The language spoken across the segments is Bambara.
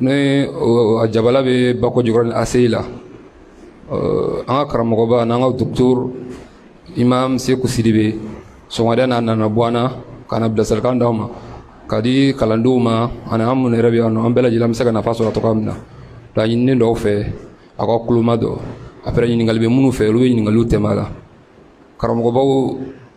ne jabala bɛ bako jɔyɔrɔ ni ase la an ka karamɔgɔba n'an ka docteur imam seku sidibe sɔgɔmada n'a nana bɔ na ka na bilasirakan d'an ma k'a di kalandenw ma ani an minnu yɛrɛ bɛ yan an bɛɛ lajɛlen bɛ se ka nafa sɔrɔ cogo min na k'a ɲini dɔw fɛ a ka tulo majɔ après ɲininkali bɛ minnu fɛ olu bɛ ɲininkali tɛ la karamɔgɔbaw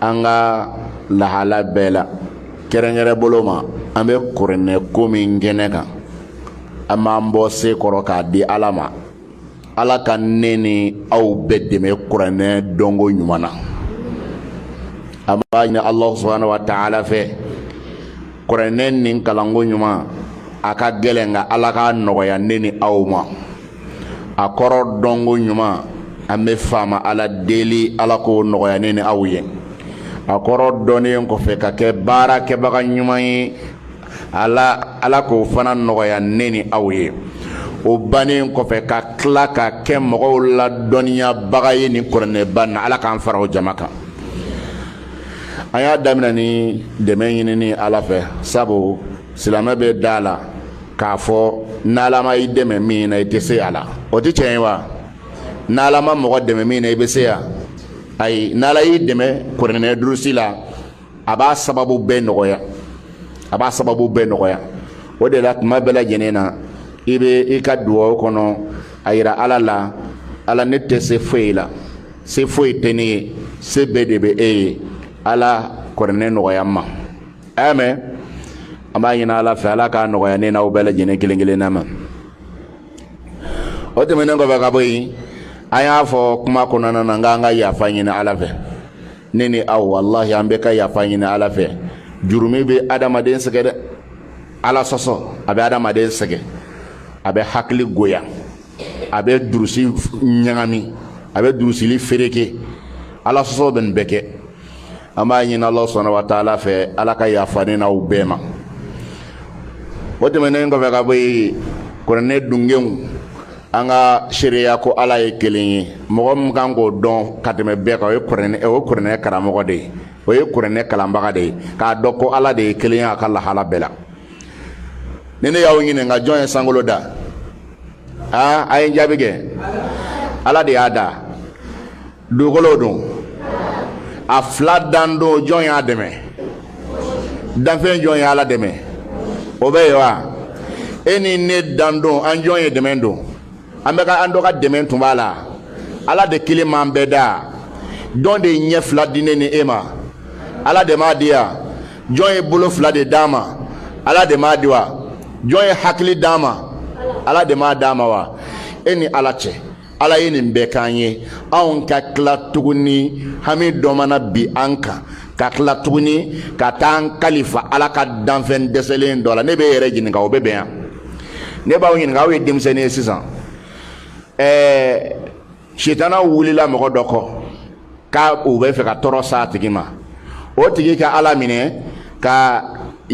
an ka lahala bɛɛ la kɛrɛnkɛrɛn bolo ma an bɛ kuranɛ ko min kɛnɛ kan an b'an bɔ se kɔrɔ k'a di ala ma ala ka ne ni aw bɛɛ dɛmɛ kuranɛ dɔnko ɲuman na an b'a ɲini alahu subahana wa taala fɛ kuranɛ nin kalanko ɲuman a ka gɛlɛn nka ala k'a nɔgɔya ne ni aw ma a kɔrɔ dɔnko ɲuman an bɛ faama ala deli ala k'o nɔgɔya ne ni aw ye a kɔrɔ dɔnnen kɔfɛ ka kɛ baarakɛbaga ɲuman ye ala ala k'o fana nɔgɔya ne ni aw ye o bannen kɔfɛ ka tila ka kɛ mɔgɔw ladɔnniyabaga ye nin kuranɛba na ala k'an fara o jama kan an y'a daminɛ ni dɛmɛ ɲinini ala fɛ sabu silamɛ bɛ da la k'a fɔ n'ala ma i dɛmɛ min na i tɛ se a la o tɛ tiɲɛ ye wa n'ala ma mɔgɔ dɛmɛ min na i bɛ se yan ayi n'ala y'i dɛmɛ kuranɛ durusi la a b'a sababu bɛɛ nɔgɔya a b'a sababu bɛɛ nɔgɔya o de la tuma bɛɛ lajɛlen na i bɛ i ka dugawu kɔnɔ a yira ala la ala ne tɛ se foyi la se foyi tɛ ne ye se bɛɛ de bɛ e ye ala kuranɛ nɔgɔya n ma a y'a mɛn an b'a ɲini ala fɛ ala k'a nɔgɔya ne n'aw bɛɛ lajɛlen kelen kelenna ma o tɛmɛnen kɔfɛ ka bɔ yen an y'a fɔ kuma kɔnɔna na n k'an ka yafa ɲini ala fɛ ne ni aw walahi an bɛɛ ka yafa ɲini ala fɛ jurumi bɛ adamaden sɛgɛn dɛ ala sɔsɔ a bɛ adamaden sɛgɛn a bɛ hakili goya a bɛ durusi ɲagami a bɛ durusili fereke ala sɔsɔ bɛ nin bɛɛ kɛ an b'a ɲini ala subahana wa taala fɛ ala ka yafa ne n'aw bɛɛ ma o tɛmɛnen kɔfɛ ka bɔ yen kuranɛ dungenw an ka seereya ko ala ye kelen ye mɔgɔ min kan k'o dɔn ka tɛmɛ bɛɛ kan o ye kuranɛ o ye kuranɛ karamɔgɔ de ye o ye kuranɛ kalanbaga de ye k'a dɔn ko ala de ye kelen ye a ka lahala bɛɛ la ni ne y'aw ɲininka jɔn ye sankolo da aa a ye n jaabi kɛ ala de y'a da dugukolo don a fila dan don jɔn y'a dɛmɛ danfɛn jɔn ye ala dɛmɛ o bɛ yen wa e ni ne dan don an jɔn ye dɛmɛ don an bɛ ka an dɔ ka dɛmɛ tun b'a la ala de kelen m'an bɛɛ da jɔn de ye ɲɛ fila di ne ni e ma ala de m'a di yan jɔn ye bolo fila de d'a ma ala de m'a di wa jɔn ye hakili d'a ma ala de m'a d'a ma wa e ni ala cɛ ala ye nin bɛɛ k'an ye anw ka tila tuguni hami dɔ mana bin an kan ka tila tuguni ka taa an kalifa ala ka danfɛn dɛsɛlen dɔ la ne bɛ e yɛrɛ ɲininka o bɛ bɛn yan ne b'aw ɲininka aw ye denmisɛnnin ye sisan ɛɛ sitana wulila mɔgɔ dɔ kɔ k'a u bɛ fɛ ka tɔɔrɔ s'a tigi ma o tigi ka ala minɛ ka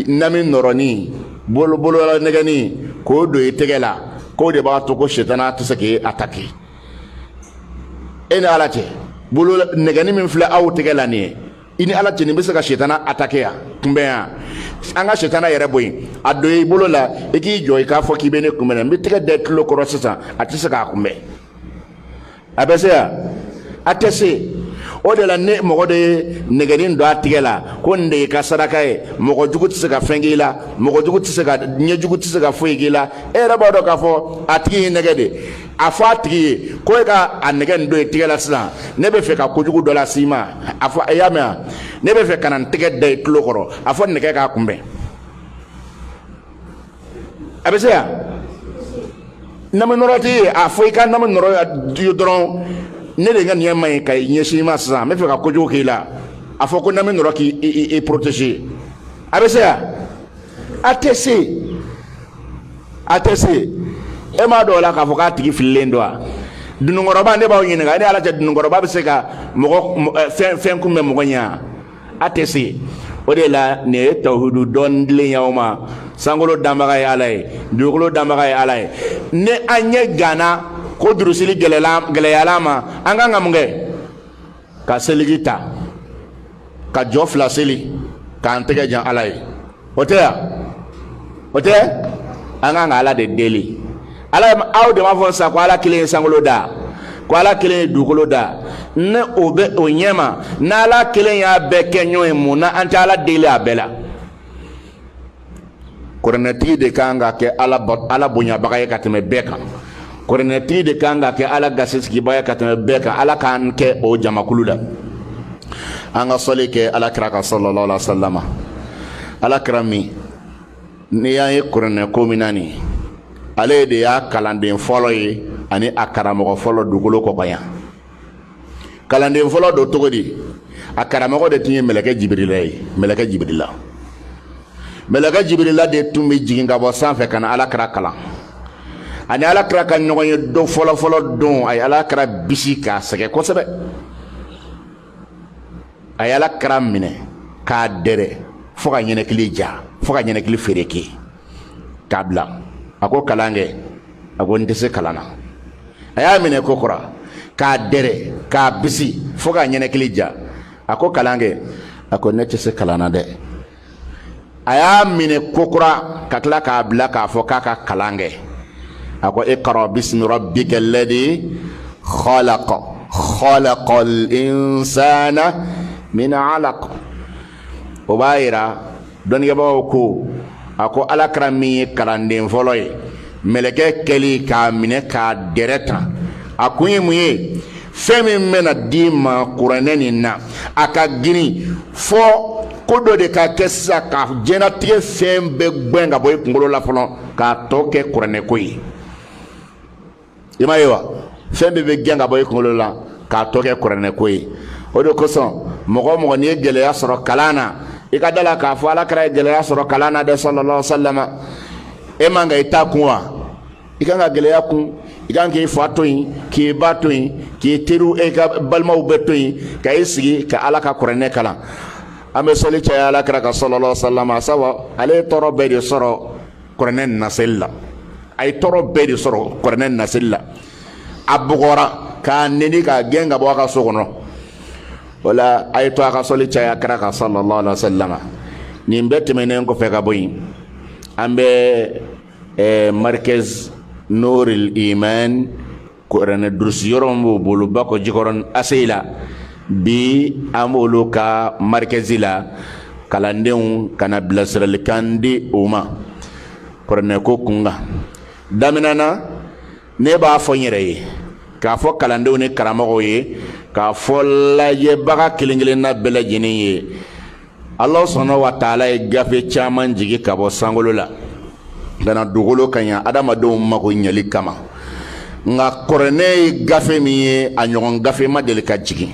nami nɔrɔni bolola nɛgɛni k'o don i tɛgɛ la k'o de b'a to ko sitana tɛ se k'i ataki e ni ala cɛ bolo nɛgɛni min filɛ aw tɛgɛ la nin ye i ni ala cɛ nin bɛ se ka sitana ataki yan kunbɛn yan an ka sitana yɛrɛ bɔ yen a don i bolo la i k'i jɔ i k'a fɔ k'i bɛ ne kunbɛn n bɛ tɛgɛ da i tulo kɔrɔ sisan a tɛ se k'a kunbɛn a bɛ se yan a tɛ se o de la ni mɔgɔ dɔ ye nɛgɛnin don a tigɛ la ko nin de y'i ka saraka ye mɔgɔ jugu tɛ se ka fɛn k'i la mɔgɔ jugu tɛ se ka ɲɛjugu tɛ se ka foyi k'i la e yɛrɛ b'a dɔn k'a fɔ a tigi y'i nɛgɛn de a fɔ a tigi ye ko e ka a nɛgɛ nin don i tigɛ la sisan ne bɛ fɛ ka kojugu dɔ las'i ma a fɔ a y'a mɛn wa ne bɛ fɛ ka na n tɛgɛ da i tulo kɔrɔ a fɔ nɛgɛ k'a kunbɛn a bɛ se yan nami nɔrɔ tɛ ye a fɔ i ka nami nɔrɔ dɔrɔn ne de ŋaniya man ɲi ka ɲɛsin i ma sisan n bɛ fɛ ka kojugu k'i la a fɔ ko nami nɔrɔ k'i protégé a bɛ se yan a tɛ se a tɛ se e m'a dɔn o la k'a fɔ k'a tigi fililen don wa dununkɔrɔba ne b'aw ɲininka i ni ala cɛ dununkɔrɔba bɛ se ka fɛn kunbɛn mɔgɔ ɲɛ a tɛ se o de la nin ye tawhidu dɔ dilen y'aw ma sankolo danbaga ye ala ye dugukolo danbaga ye ala ye ni an ɲɛ ganna ko durusili gɛlɛyala an ma an kan ka mun kɛ ka seliji ta ka jɔ fila seli k'an tɛgɛ jan ala ye o tɛ yan o tɛ an kan ka ala de deli ala aw de b'a fɔ sa ko ala kelen ye sankolo da ko ala kelen ye dugukolo da ni o bɛ o ɲɛ ma n'ala kelen y'a bɛɛ kɛ ɲɔgɔn ye mun na an tɛ ala deli a bɛɛ la kuranɛtigi de kan ka kɛ ala bonyabaga ye ka tɛmɛ bɛɛ kan kuranɛtigi de kan ka kɛ ala gasisigibaa ye ka tɛmɛ bɛɛ kan ala k'an kɛ o jamakulu la an ka sɔli kɛ ala kira kan sallallahu alaihi wa sallam ala kira min n'i y'an ye kuranɛ ko min na nin ale de y'a kalanden fɔlɔ ye ani a karamɔgɔ fɔlɔ dugukolo kɔkan yan kalanden fɔlɔ don cogo di a karamɔgɔ de tun ye mɛlɛkɛ jibirila ye mɛlɛkɛ jibirila mɛlɛkɛ jibirila de tun bɛ jigin ka bɔ sanfɛ ka na alakira kalan ani alakira ka ɲɔgɔn ye don fɔlɔfɔlɔ don a ye alakira bisi k'a sɛgɛn kosɛbɛ a ye alakira minɛ k'a dɛrɛ fo k'a ɲɛnɛkili ja fo k'a ɲɛnɛkili fereke k'a bila a ko kalan kɛ a ko n tɛ se kalan na a y'a minɛ ko kura k'a dɛrɛ k'a bisi fo k'a ɲɛnɛkili ja a ko kalan kɛ a ko ne tɛ se kalan na dɛ a y'a minɛ ko kura ka tila k'a bila k'a fɔ k'a ka kalan kɛ a ko iqra bismi rabbika alladhi khalaqa khalaqal insana min alaq o b'a yira dɔnnikɛbagaw ko a ko alakira min ye kalanden fɔlɔ ye mɛlɛkɛ kɛli k'a minɛ k'a dɛrɛ tan a kun ye mun ye fɛn min bɛna d'i ma kuranɛ nin na a ka girin fo ko dɔ de ka kɛ sisan ka diɲɛnatigɛ fɛn bɛɛ gɛn ka bɔ i kunkolo la fɔlɔ k'a tɔ kɛ kuranɛko ye i m'a ye wa fɛn bɛɛ bɛ gɛn ka bɔ i kunkolo la k'a tɔ kɛ kuranɛ ko ye o de kosɔn mɔgɔ o mɔgɔ n'i ye gɛlɛya sɔrɔ kalan na i ka d'a la k'a fɔ alakira ye gɛlɛya sɔrɔ kalan na dɛ sallallahu alaihi wa sallam e man ka i ta kun wa i kan ka gɛlɛya kun i kan k'i fa to yen k'i ba to yen k'i teriw e ka balimaw bɛɛ to yen ka i sigi ka ala ka kuranɛ kalan an bɛ sɔli caya alakira kan sallallahu alaihi wa sallam sabu ale ye tɔɔrɔ bɛɛ de sɔrɔ kuranɛ naseli la a ye tɔɔrɔ bɛɛ de sɔrɔ kuranɛ naseli la a bugɔra k'a neni k'a gɛn ka bɔ a ka so kɔnɔ o la a ye to a ka sɔli caya kira kan sallallahu alaihi wa sallam nin bɛɛ tɛmɛnen kɔfɛ ka bɔ yen an bɛ markɛzi nuril iman kuranɛ durusi yɔrɔ min b'o bolo bakɔ jikɔrɔni aseyi la bi an b'olu ka marikɛzi la kalandenw ka na bilasiralikan di o ma kuranɛko kunkan daminɛ na ne b'a fɔ n yɛrɛ ye k'a fɔ kalandenw ni karamɔgɔw ye k'a fɔ lajɛbaga kelen-kelenna bɛɛ lajɛlen ye ala subhana wa taala ye gafe caman jigin ka bɔ sankolo la ka na dugukolo kan yan adamadenw mago ɲɛli kama nka kuranɛ ye gafe min ye a ɲɔgɔn gafe ma deli ka jigin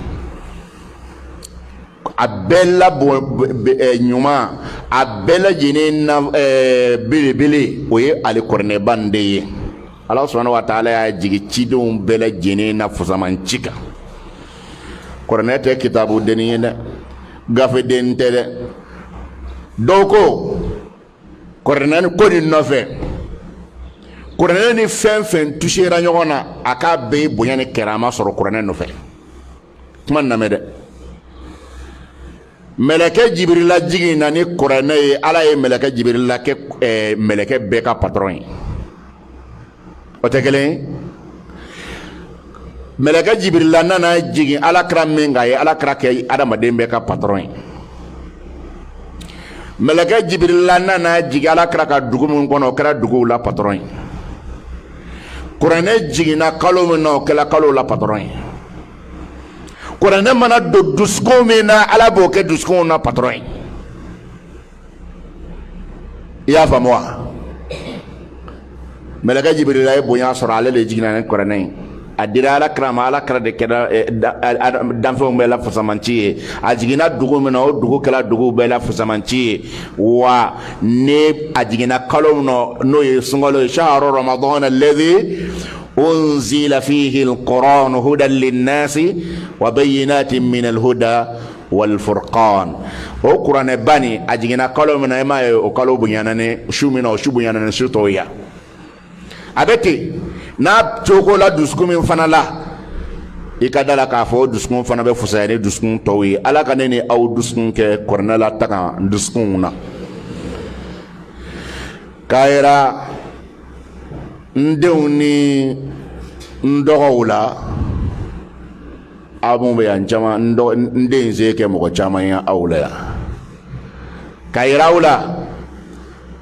a bɛɛ la bon eh, ɲuman a bɛɛ lajɛlen na eh, belebele o ye ale kuranɛba nin de ye ala subhana wa taala y'a jigin cidenw bɛɛ lajɛlen na fusamanci kan kuranɛ tɛ kitabu dennin ye dɛ gafeden tɛ dɛ dɔw ko kuranɛ ko nin nɔfɛ kuranɛ ni fɛn fɛn tusera ɲɔgɔn na a k'a bɛɛ bonya ni karama sɔrɔ kuranɛ nɔfɛ kuma lamɛn dɛ mɛlɛkɛ jibirila jiginna ni kuranɛ ye ala ye mɛlɛkɛ jibirila kɛ ɛɛ mɛlɛkɛ bɛɛ ka patɔrɔn ye o tɛ kelen mɛlɛkɛ jibirila nana jigin alakira min kan ye alakira kɛ adamaden bɛɛ ka patɔrɔn ye mɛlɛkɛ jibirila nana jigin alakira ka dugu min kɔnɔ o kɛra duguw la patɔrɔn ye kuranɛ jiginna kalo min na o kɛra kalow la patɔrɔn ye kuranɛ mana don dusukun min na ala b'o kɛ dusukunw na patɔrɔn ye i y'a faamu wa mɛlɛkɛ jibirila ye bonya sɔrɔ ale de jiginna ni kuranɛ ye a dira ala kira ma ala kira de kɛra eh, danfɛnw bɛɛ la fisamanci ye a jiginna dugu min na o dugu kɛra duguw bɛɛ la fisamanci ye wa ni a jiginna kalo min na n'o ye sunkalo ye shahru ramadan alladhi unzila fihi alquran hudan linnasi wa bayyinatin min alhuda wal furqan o kuranɛ ba nin a jiginna kalo min na e m'a ye o kalo bonyana ni su min na o su bonyana ni su tɔw ye a bɛ ten n'a cogo la dusukun min fana la i ka da la k'a fɔ dusukun fana bɛ fisaya ni dusukun tɔw ye ala ka ne ni aw dusukun kɛ kuranɛ lataga dusukunw na k'a yira n denw ni n dɔgɔw la aw minnu bɛ yan caman n den se kɛ mɔgɔ caman ye aw la yan k'a yira aw la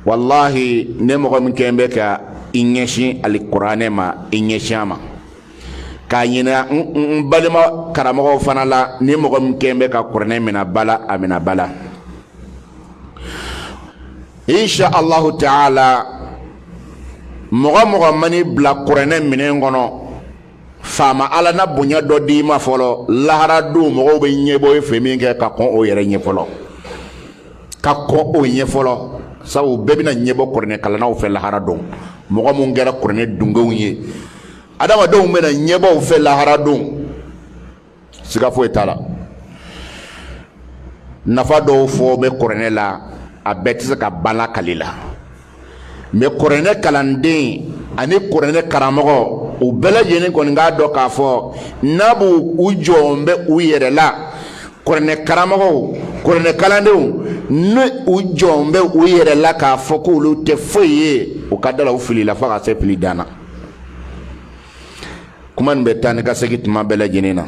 walahi ni mɔgɔ min kɛ bɛ ka i ɲɛsin alikuranɛ ma i ɲɛsin a ma k'a ɲini n balima karamɔgɔw fana la ni mɔgɔ min kɛ bɛ ka kuranɛ minɛ ba la a minɛ ba la insha allahu taala mɔgɔ mɔgɔ man'i bila kuranɛ minɛn kɔnɔ faama ala na bonya dɔ d'i ma fɔlɔ lahara don mɔgɔw bɛ ɲɛbɔ e fɛ min kɛ ka kɔn o yɛrɛ ɲɛ fɔlɔ ka kɔn o ɲɛ fɔlɔ sabu bɛɛ bɛna ɲɛbɔ kuranɛ kalannaw fɛ lahara don mɔgɔ minnu kɛra kuranɛ dungew ye adamadenw bɛna ɲɛbɔ u fɛ lahara don siga foyi t'a la nafa dɔw fɔ bɛ kuranɛ la a bɛɛ tɛ se ka ban lakali la mɛ kuranɛ kalanden ani kuranɛ karamɔgɔ u bɛɛ lajɛlen kɔni k'a dɔn k'a fɔ n'a b'u u jɔn bɛ u yɛrɛ la kuranɛ karamɔgɔw kuranɛ kalandenw ni u jɔn bɛ u yɛrɛ la k'a fɔ k'olu tɛ foyi ye u ka da la u filila fo ka se fili dan na kuma nin bɛ taa ni ka segin tuma bɛɛ lajɛlen na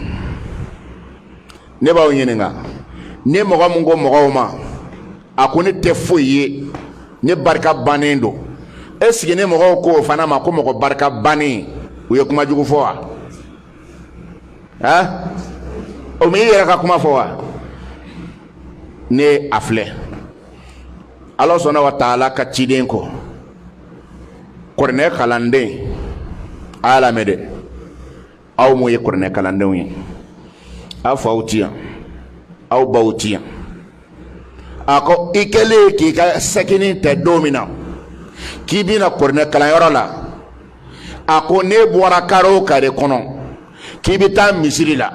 ne b'aw ɲininka ne mɔgɔ min ko mɔgɔw ma a ko ne tɛ foyi ye ne barika bannen don est-ce que ne mɔgɔw ko o fana ma ko mɔgɔ barika bannen u ye kuma jugu fɔ wa ɛn o m'i yɛrɛ ka kuma fɔ wa ne a filɛ ala subhana wa taala ka ciden ko kuranɛ kalanden a y'a lamɛn dɛ aw mun ye kuranɛ kalandenw ye aw faw ti yan aw baw ti yan a ko i kɛlen k'i ka sakinin ta don min na k'i bɛna kuranɛ kalanyɔrɔ la a ko n'e bɔra kare o kare kɔnɔ k'i bɛ taa misiri la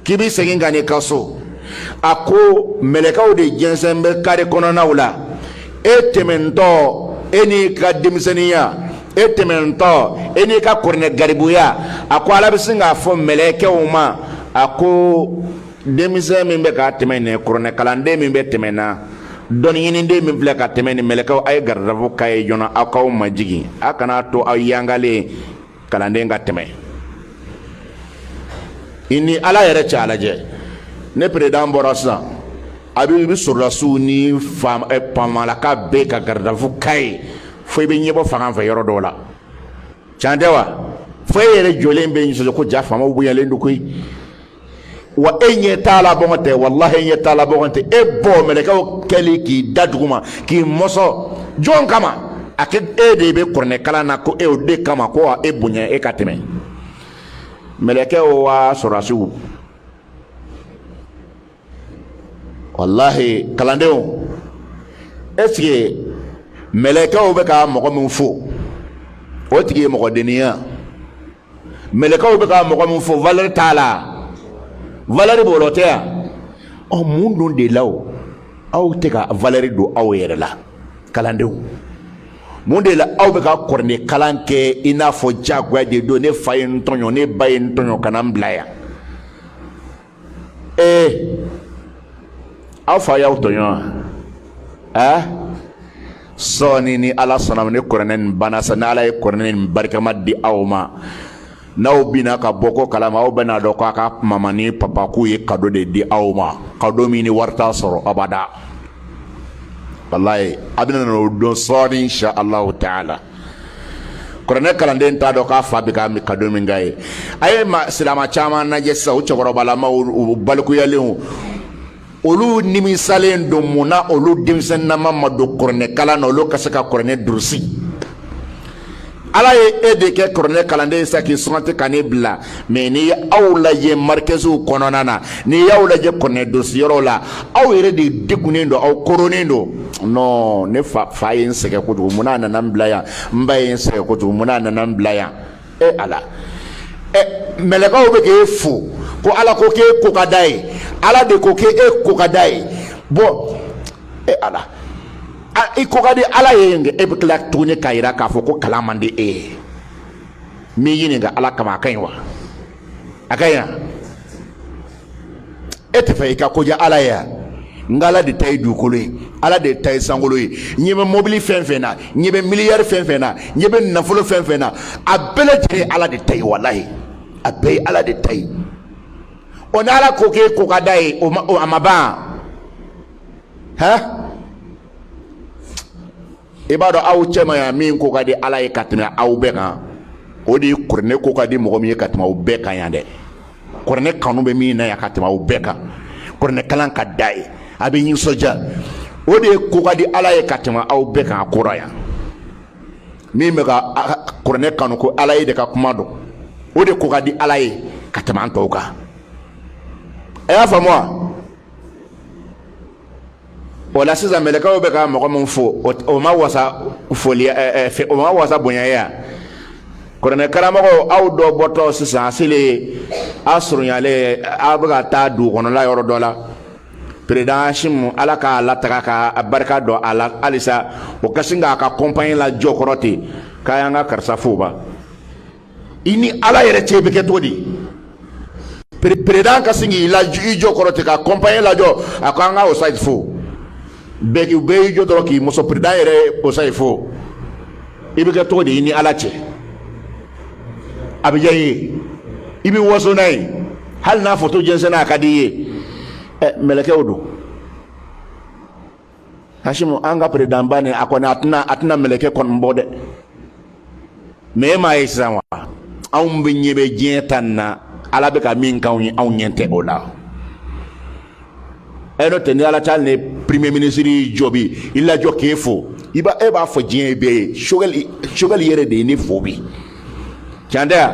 k'i bɛ segin ka n'i ka so a ko mɛlɛkɛw de jɛnsɛn bɛ kare kɔnɔnaw la e tɛmɛntɔ e n'i ka denmisɛnninya e tɛmɛntɔ e n'i ka kuranɛ garibuya a ko ala bɛ sin k'a fɔ mɛlɛkɛw ma a ko denmisɛn min bɛ ka tɛmɛ nin kuranɛ kalanden min bɛ tɛmɛ na dɔnniɲiniden min filɛ ka tɛmɛ nin mɛlɛkɛw a ye garde-à-vous k'a ye joona aw k'aw majigin a kana to aw yangalen kalanden ka tɛmɛ i ni ala yɛrɛ cɛ a lajɛ ni président bɔra sisan a bɛ i bɛ sɔrɔdasiw ni famalaka eh, bɛɛ ka garde-à-vous k'a ye fo i bɛ ɲɛbɔ fanga fɛ yɔrɔ dɔw la can tɛ wa fo e yɛrɛ jɔlen bɛ nisɔndiya ko jaa faamaw bonyalen don koyi wa e ɲɛ t'a la bɔgɔn tɛ walahi e ɲɛ t'a la bɔgɔn tɛ e bɔ mɛlɛkɛw kɛli k'i da duguma k'i mɔsɔn jɔn kama a kɛ e de bɛ kuranɛ kalan na ko e o de kama ko wa e bonya e ka tɛmɛ mɛlɛkɛw wa sɔrɔdasiw walahi kalandenw est-ce que mɛlɛkɛw bɛ ka mɔgɔ min fo o tigi ye mɔgɔdeniya mɛlɛkɛw bɛ ka mɔgɔ min fo valeur t'a la valeur b'o la o tɛ yan ɔ mun dun de la o aw tɛ ka valeur don aw yɛrɛ la kalandenw mun de la aw bɛ ka kuranɛ kalan kɛ i n'a fɔ diyagoya de don ne fa ye n tɔɲɔ ne ba ye n tɔɲɔ ka na n bila yan ee aw fa y'aw tɔɲɔ wa ɛɛ sɔɔni ni ala sɔnna ni kuranɛ nin banna sa ni ala ye kuranɛ nin barikama di aw ma n'aw bina ka bɔ ko kalama aw bɛn'a dɔn k'aw ka mama ni papa k'u ye kado de di aw ma kado min ni wari t'a sɔrɔ abada walayi a bɛna n'o dɔn sɔɔni insha allahu taala kuranɛ kalanden t'a dɔn k'a fa bɛ ka kado min k'a ye a ye silamɛ caman lajɛ sisan o cɛkɔrɔbalamaw u balikuyalenw olu nimisalen don mun na olu denmisɛnninama ma don kuranɛ kalan na olu ka se ka kuranɛ durusi ala ye e de kɛ kuranɛ kalanden ye sa k'i sugandi ka ne bila mɛ n'i ye aw lajɛ marikɛsiw kɔnɔna na n'i y'aw lajɛ kuranɛ durusiyɔrɔw la aw yɛrɛ de degunnen don aw koronnen don non ne fa ye n sɛgɛn kojugu mun n'a nana n bila yan n ba ye n sɛgɛn kojugu mun n'a nana n bila yan e ala ɛ mɛlɛkɛw bɛ k'e fo ko ala ko k'e ko ka d'a ye ala de ko k'e ko ka d'a ye bɔn e ala i ko ka di ala ye e bɛ tila tuguni k'a jira k'a fɔ ko kalan man di e ye n b'i ɲininka ala kama a ka ɲi wa a ka ɲi wa e t'a fɛ i ka ko diya ala ye wa nka ala de ta ye dugukolo ye ala de ta ye sankolo ye ɲɛ bɛ mobili fɛn fɛn na ɲɛ bɛ miliyari fɛn fɛn na ɲɛ bɛ nafolo fɛn fɛn na a bɛɛ lajɛlen ye ala de ta ye walayi a bɛɛ ye ala de ta ye o ni ala ko k'e ko ka d'a ye o a ma ban hɛn. i b'a dɔn aw cɛma yan min ko ka di ala ye ka tɛmɛ aw bɛɛ kan o de ye kuranɛ ko ka di mɔgɔ min ye ka tɛmɛ aw bɛɛ kan yan dɛ kuranɛ kanu bɛ min na yan ka tɛmɛ aw bɛɛ kan kuranɛ kalan ka d'a ye a bɛ nisɔndiya o de ye ko ka di ala ye ka tɛmɛ aw bɛɛ kan a kɔrɔ yan min bɛ ka kuranɛ kanu ko ala yɛrɛ ka kuma don o de ko ka di ala ye ka tɛmɛ an tɔw kan a y'a faamu wa o la sisan mɛlɛkɛw bɛ ka mɔgɔ min fo o ma wasa foli o ma wasa bonya ye wa kuranɛ karamɔgɔ aw dɔ bɔtɔ sisan a selen a surunyalen aw bɛ ka taa dugu kɔnɔla yɔrɔ dɔ la peredan Hashimu ala k'a latanga ka barika don a la halisa o ka sin k'a ka kɔnpanye lajɔ kɔrɔ ten k'a y'an ka karisa fo ba i ni ala yɛrɛ cɛ i bɛ kɛ cogo di peredan ka sin k'i lajɔ kɔrɔ ten ka kɔnpanye lajɔ a ko an ka osayi fo bɛɛ k'i bɛɛ y'i jɔ dɔrɔn k'i muso peredan yɛrɛ osayi fo i bɛ kɛ cogo di i ni ala cɛ a bɛ diya i ye i bɛ waso n'a ye hali n'a foto jɛnsɛnna a ka di i ye ɛ mɛlɛkɛw don Hashimu an ka peredanba nin a kɔni a tɛna mɛlɛkɛ kɔni bɔ dɛ mɛ e m'a ye sisan wa anw bɛɛ ɲɛ bɛ diɲɛ ta nin na ala bɛ ka min k'anw ye anw ɲɛ tɛ o la e n'o tɛ i ni ala cɛ hali ni premier ministre jɔ bi i lajɔ k'e fo i b'a e b'a fɔ diɲɛ bɛɛ ye sogɛli yɛrɛ de ye ne fo bi can tɛ wa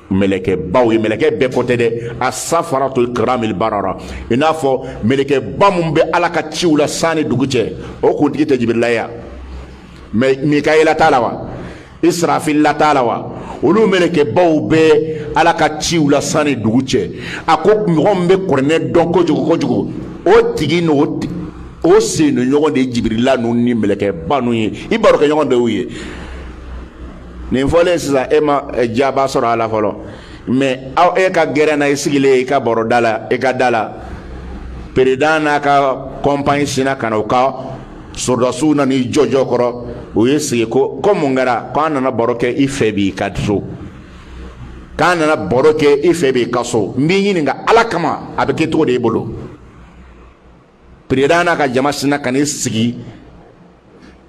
mɛlɛkɛbaw ye mɛlɛkɛ bɛɛ ko tɛ dɛ asafaratul kiram al barara i n'a fɔ mɛlɛkɛba minnu bɛ ala ka ciw la san ni dugu cɛ o kuntigi tɛ jibirila ye wa mikayila t'a la wa isirafila t'a la wa olu mɛlɛkɛbaw bɛ ala ka ciw la san ni dugu cɛ a ko mɔgɔ bɛ kuranɛ dɔn kojugu kojugu o tigi n'o o sennɔ ɲɔgɔn de ye jibirila ninnu ni mɛlɛkɛba ninnu ye i baro kɛ ɲɔgɔn de ye nin fɔlen sisan e ma eh, jaabi sɔrɔ a la fɔlɔ mɛ aw e ka gɛrɛn na i sigilen i ka baro da la i ka da la peresidan n'a ka kɔnpani sinna ka na u ka sɔrɔdasiw na n'i jɔjɔ kɔrɔ u y'i sigi ko ko mun kɛra k'an nana baro kɛ i fɛ b'i ka so k'an nana baro kɛ i fɛ b'i ka so n b'i ɲininka ala kama a bɛ kɛ cogo di e bolo peresidan n'a ka jama sinna ka n'i sigi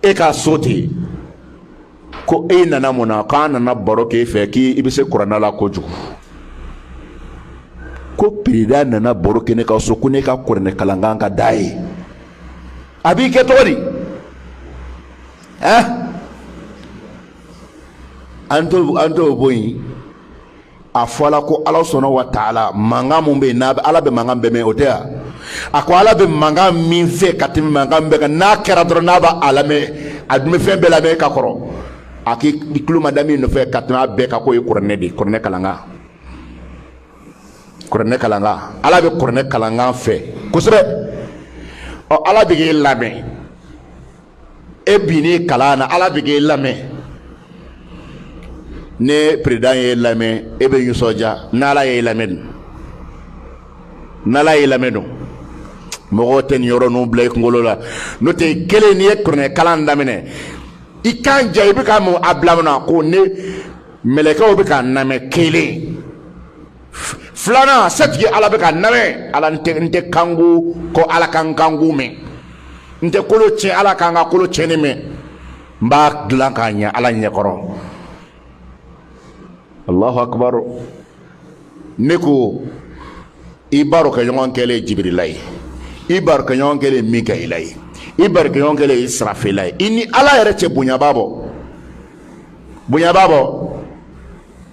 e ka so ten ko e nana mun na k'an nana baro k'e fɛ k'i bɛ se kuranɛ la kojugu ko peresidan nana baro kɛ ne ka so ko ne ka kuranɛ kalankan ka d'a ye a b'i kɛ cogo di an t'o an t'o bɔ yen a fɔla ko ala subahanahu wa taala mankan mun bɛ yen n'a ala bɛ mankan bɛɛ mɛn o tɛ yan a ko ala bɛ mankan min fɛ ka tɛmɛ mankan bɛɛ kan n'a kɛra dɔrɔn n'a b'a lamɛn a dun bɛ fɛn bɛɛ lamɛn ka kɔrɔ a k'i tulo ma da min nɔfɛ ka tɛmɛ a bɛɛ kan k'o ye kuranɛ de ye kuranɛ kalankan kuranɛ kalankan ala bɛ kuranɛ kalankan fɛ kosɛbɛ ɔ ala bɛ k'e lamɛn e binnen kalan na ala bɛ k'e lamɛn ni peresidan y'e lamɛn e bɛ nisɔndiya n'ala y'e lamɛn dun n'ala y'e lamɛn dun mɔgɔw tɛ nin yɔrɔ ninnu bila i kunkolo la n'o tɛ kelen n'i ye kuranɛ kalan daminɛ i kan ja i b'i kan mabila mun na ko ne mɛlɛkɛw bɛ ka n lamɛn kelen filanan setigi ala bɛ ka n lamɛn ala n tɛ n tɛ kango ko ala ka n kango mɛn n tɛ kolo tiɲɛ ala ka n ka kolo tiɲɛni mɛn n b'a dilan k'a ɲɛ ala ɲɛkɔrɔ alahu akibaru ne ko i barokɛɲɔgɔn kɛlen jibirila ye i barokɛɲɔgɔn kɛlen mikayila ye i barokɛɲɔgɔn kɛlen isirafila ye i ni ala yɛrɛ cɛ bonya b'a bɔ bonya b'a bɔ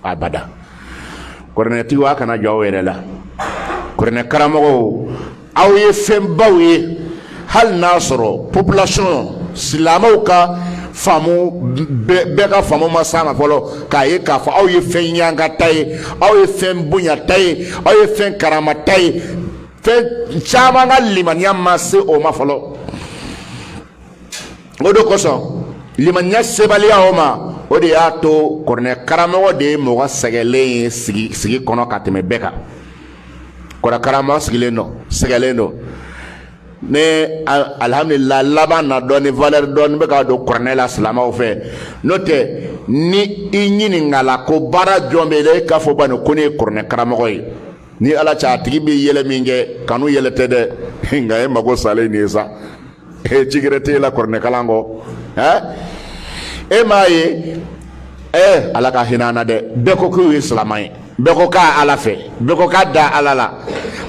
abada kuranɛtigiw a kana jɔn aw yɛrɛ la kuranɛ karamɔgɔw aw ye fɛnbaw ye hali n'a sɔrɔ popilasiɔn silamɛw ka faamu bɛɛ ka faamu ma s'a ma fɔlɔ k'a ye k'a fɔ aw ye fɛn ɲangata ye aw ye fɛn bonyata ye aw ye fɛn karamata ye fɛn caman ka limaniya ma se o ma fɔlɔ o de kosɔn limaniya sebaliya o ma o de y'a to kuranɛ karamɔgɔ de ye mɔgɔ sɛgɛlen ye sigi kɔnɔ ka tɛmɛ bɛɛ kan kuranɛ karamɔgɔ sigilen don sɛgɛlen don ne alihamdulilayi laban na dɔɔni valeur dɔɔni bɛ ka don kuranɛ la silamɛw fɛ n'o tɛ ni i ɲininkala ko baara jɔn b'e la e k'a fɔ bani ko ne ye kuranɛ karamɔgɔ ye ni ala cɛ a tigi bɛ yɛlɛ min kɛ kanu yɛlɛ tɛ dɛ nka e mago salen de ye sa Ee ci gɛrɛ t'e la kuranɛkalan kɔ ɛɛ e m'a ye ɛɛ ala ka hinɛ an na dɛ bɛɛ ko k'u ye silamɛ ye bɛɛ ko k'a ala fɛ bɛɛ ko k'a da ala la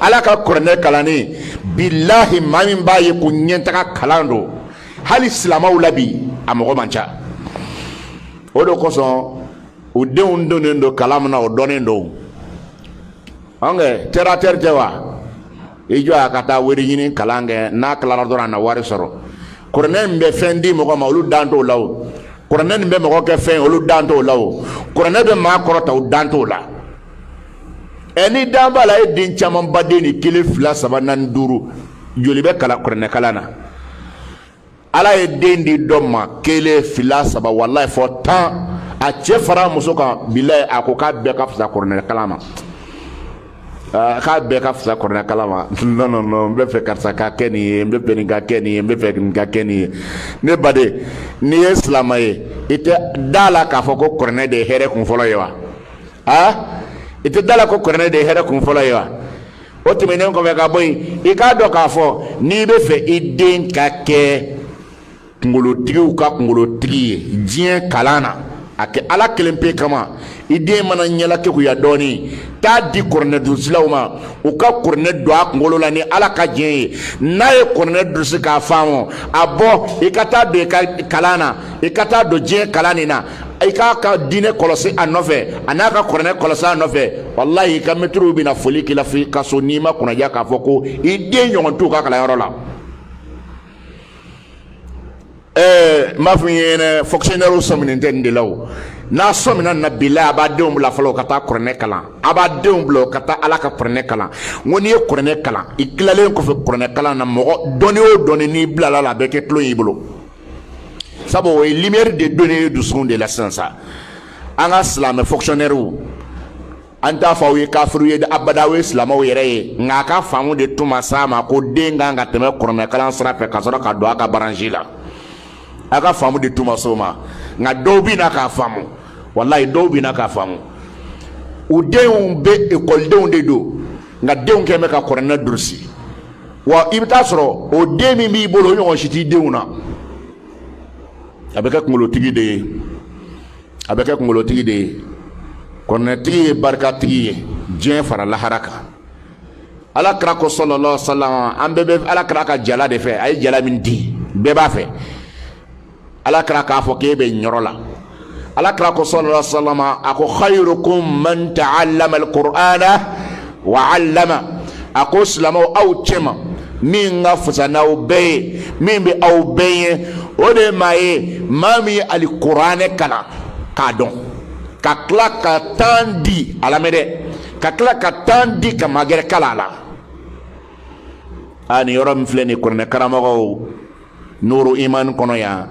ala ka kuranɛ kalanni bilahi maa min b'a ye ko ɲɛtaga kalan don hali silamɛw la bi a mɔgɔ man ca o de kosɔn u denw donnen don kalan min na o dɔnnen don an kɛ terre à terre tɛ wa i jɔ a ka taa wari ɲini kalan kɛ n'a tilara dɔrɔn a na wari sɔrɔ kuranɛ nin bɛ fɛn di mɔgɔ ma olu dan t'o la o kuranɛ nin bɛ mɔgɔ kɛ fɛn olu dan t'o la o kuranɛ bɛ maa kɔrɔta u dan t'o la ɛ n'i dan b'a la e den camanba den ni kelen fila saba naani duuru joli bɛ ala ka kuranɛ kalan na ala ye den di dɔ ma kelen fila saba walayi fo tan a cɛ fara muso kan bilayi a ko k'a bɛɛ ka fisa kuranɛkalan ma ah, k'a bɛɛ ka fisa kuranɛkalan ma non non non n bɛ fɛ karisa ka kɛ nin ye n bɛ fɛ nin ka kɛ nin ye n bɛ fɛ nin ka kɛ nin ye ne baden n'i ye silamɛ ye i tɛ da la k'a fɔ ko kuranɛ de ye hɛrɛ kun fɔlɔ ye wa aa ah, i tɛ da la ko kuranɛ de ye hɛrɛ kun fɔlɔ ye wa o tɛmɛnen kɔfɛ ka bɔ yen i k'a dɔn k'a fɔ n'i bɛ fɛ i den ka kɛ kungolotigiw ka kungolotigi ye diɲɛ kalan na a kɛ ala kelen pe kama i den mana ɲɛla keguya dɔɔnin t'a di kuranɛ durusilaw ma u ka kuranɛ don a kunkolo la ni ala ka diɲɛ ye n'a ye kuranɛ durusi k'a faamu a bɔ i ka taa don i ka kalan na i ka taa don diɲɛ kalan nin na i k'a ka diinɛ kɔlɔsi a nɔfɛ a n'a ka kuranɛ kɔlɔsi a nɔfɛ walahi i ka mɛtiriw bɛna foli k'i la fo i ka so n'i ma kunnaja k'a fɔ ko i den ɲɔgɔn t'u ka kalanyɔrɔ la ɛɛ n b'a fɔ n ye yɛrɛ fonctionnaire sɔminen tɛ nin de la o n'a sɔmina na bilahi a b'a denw bila fɔlɔ ka taa kuranɛ kalan a b'a denw bila ka taa ala ka kuranɛ kalan n ko n'i ye kuranɛ kalan i tilalen kɔfɛ kuranɛ kalan na mɔgɔ dɔnni o dɔnni n'i bilala a la a bɛ kɛ tulon y'i bolo sabu o ye lumière de donnen ye dusukun de la sisan sa an ka silamɛ fonctionnaires an t'a fɔ aw ye kafiriw ye abada aw ye silamɛw yɛrɛ ye nka a ka faamu de tun ma s'a ma ko den kan ka tɛmɛ kuranɛkalan sira fɛ ka sɔrɔ ka don a ka branche la a ka faamu de tun ma s'o ma nka dɔw bɛ na k'a faamu walayi dɔw bɛ na k'a faamu u denw bɛ ekɔlidenw de don nka denw kɔni bɛ ka kuranɛ durusi wa i bɛ taa sɔrɔ o den min b'i bolo o ɲɔgɔn si t'i denw na a bɛ kɛ kunkolotigi de ye a bɛ kɛ kunkolotigi de ye kuranɛtigi ye barikatigi ye diɲɛ fara lahara kan ala kira ko sallallahu alaihi wasallam an bɛɛ bɛ ala kira ka jala de fɛ a ye jala min di bɛɛ b'a fɛ ala kira k'a fɔ k'e bɛ ɲɔrɔ la ala kira ko sallallahu alaihi wasallam a ko khayrukum man ta'allama alqur'ana wa 'allama a ko silamɛw aw cɛma min ka fisa n'aw bɛɛ ye min bɛ aw bɛɛ ɲɛ o de ye maa ye maa min ye alikuranɛ kalan k'a dɔn ka tila ka tan di a lamɛn dɛ ka tila ka tan di ka maa gɛrɛ kalan a la a nin yɔrɔ min filɛ nin kuranɛ karamɔgɔw nuru iman kɔnɔ yan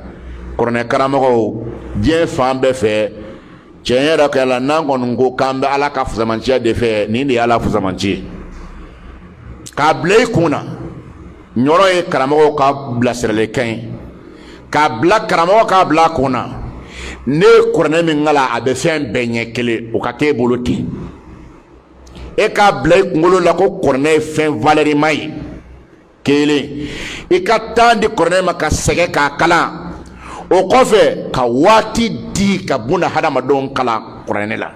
kɔrɔnɛ karamɔgɔw diɲɛ fan bɛɛ fɛ tiɲɛ yɛrɛ kɛ la n'an kɔni ko k'an bɛ ala ka fisamanciya de fɛ nin de ye ala fisamanci ye k'a bila i kun na nin yɔrɔ ye karamɔgɔw ka bilasiralikan ye k'a bila karamɔgɔ k'a bila a kun na ne ye kuranɛ min kalan a bɛ fɛn bɛɛ ɲɛ kelen o ka kɛ e bolo ten e k'a bila i kunkolo la ko kuranɛ ye fɛn valɛrima ye kelen i ka tan di kɔrɔnɛ ma ka sɛgɛn k'a kalan o kɔfɛ ka waati di ka buna hadamadenw kalan kɔrɔnɛ la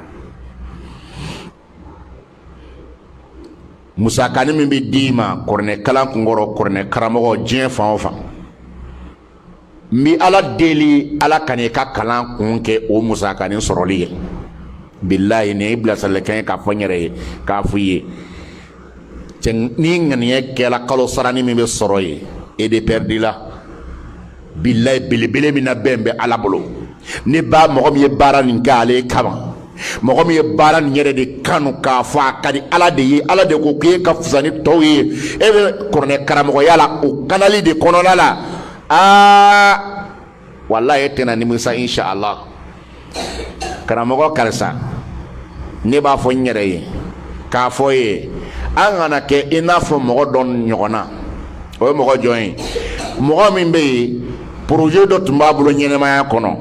musakani min bɛ d'i ma kɔrɔnɛ kalan kunkɔrɔ kɔrɔnɛ karamɔgɔ diɲɛ fan o fan n bi ala deli ala kan'i ka kalan kun kɛ o musakanin sɔrɔli ye bilayi nin ye bilasiralikan ye k'a fɔ n yɛrɛ ye k'a fɔ i ye cɛ ni ŋaniya kɛla kalo sarani min bɛ sɔrɔ ye e de pɛridi la bilayi belebele min nabɛn bɛ ala bolo ne ba mɔgɔ min ye baara nin kɛ ale kama mɔgɔ min ye baara nin yɛrɛ de kanu k'a fɔ a ka di ala de ye ala de ko k'e ka fisa ni tɔw ye e bɛ kɔrɔnɛ karamɔgɔya la o kanali de kɔnɔna la aa walayi e tɛna nimisa inshallah karamɔgɔ karisa ne b'a fɔ n yɛrɛ ye k'a fɔ ye an kana kɛ i n'a fɔ mɔgɔ dɔ ɲɔgɔn na o ye mɔgɔ jɔn ye mɔgɔ min bɛ yen poroze dɔ tun b'a bolo ɲɛnamaya kɔnɔ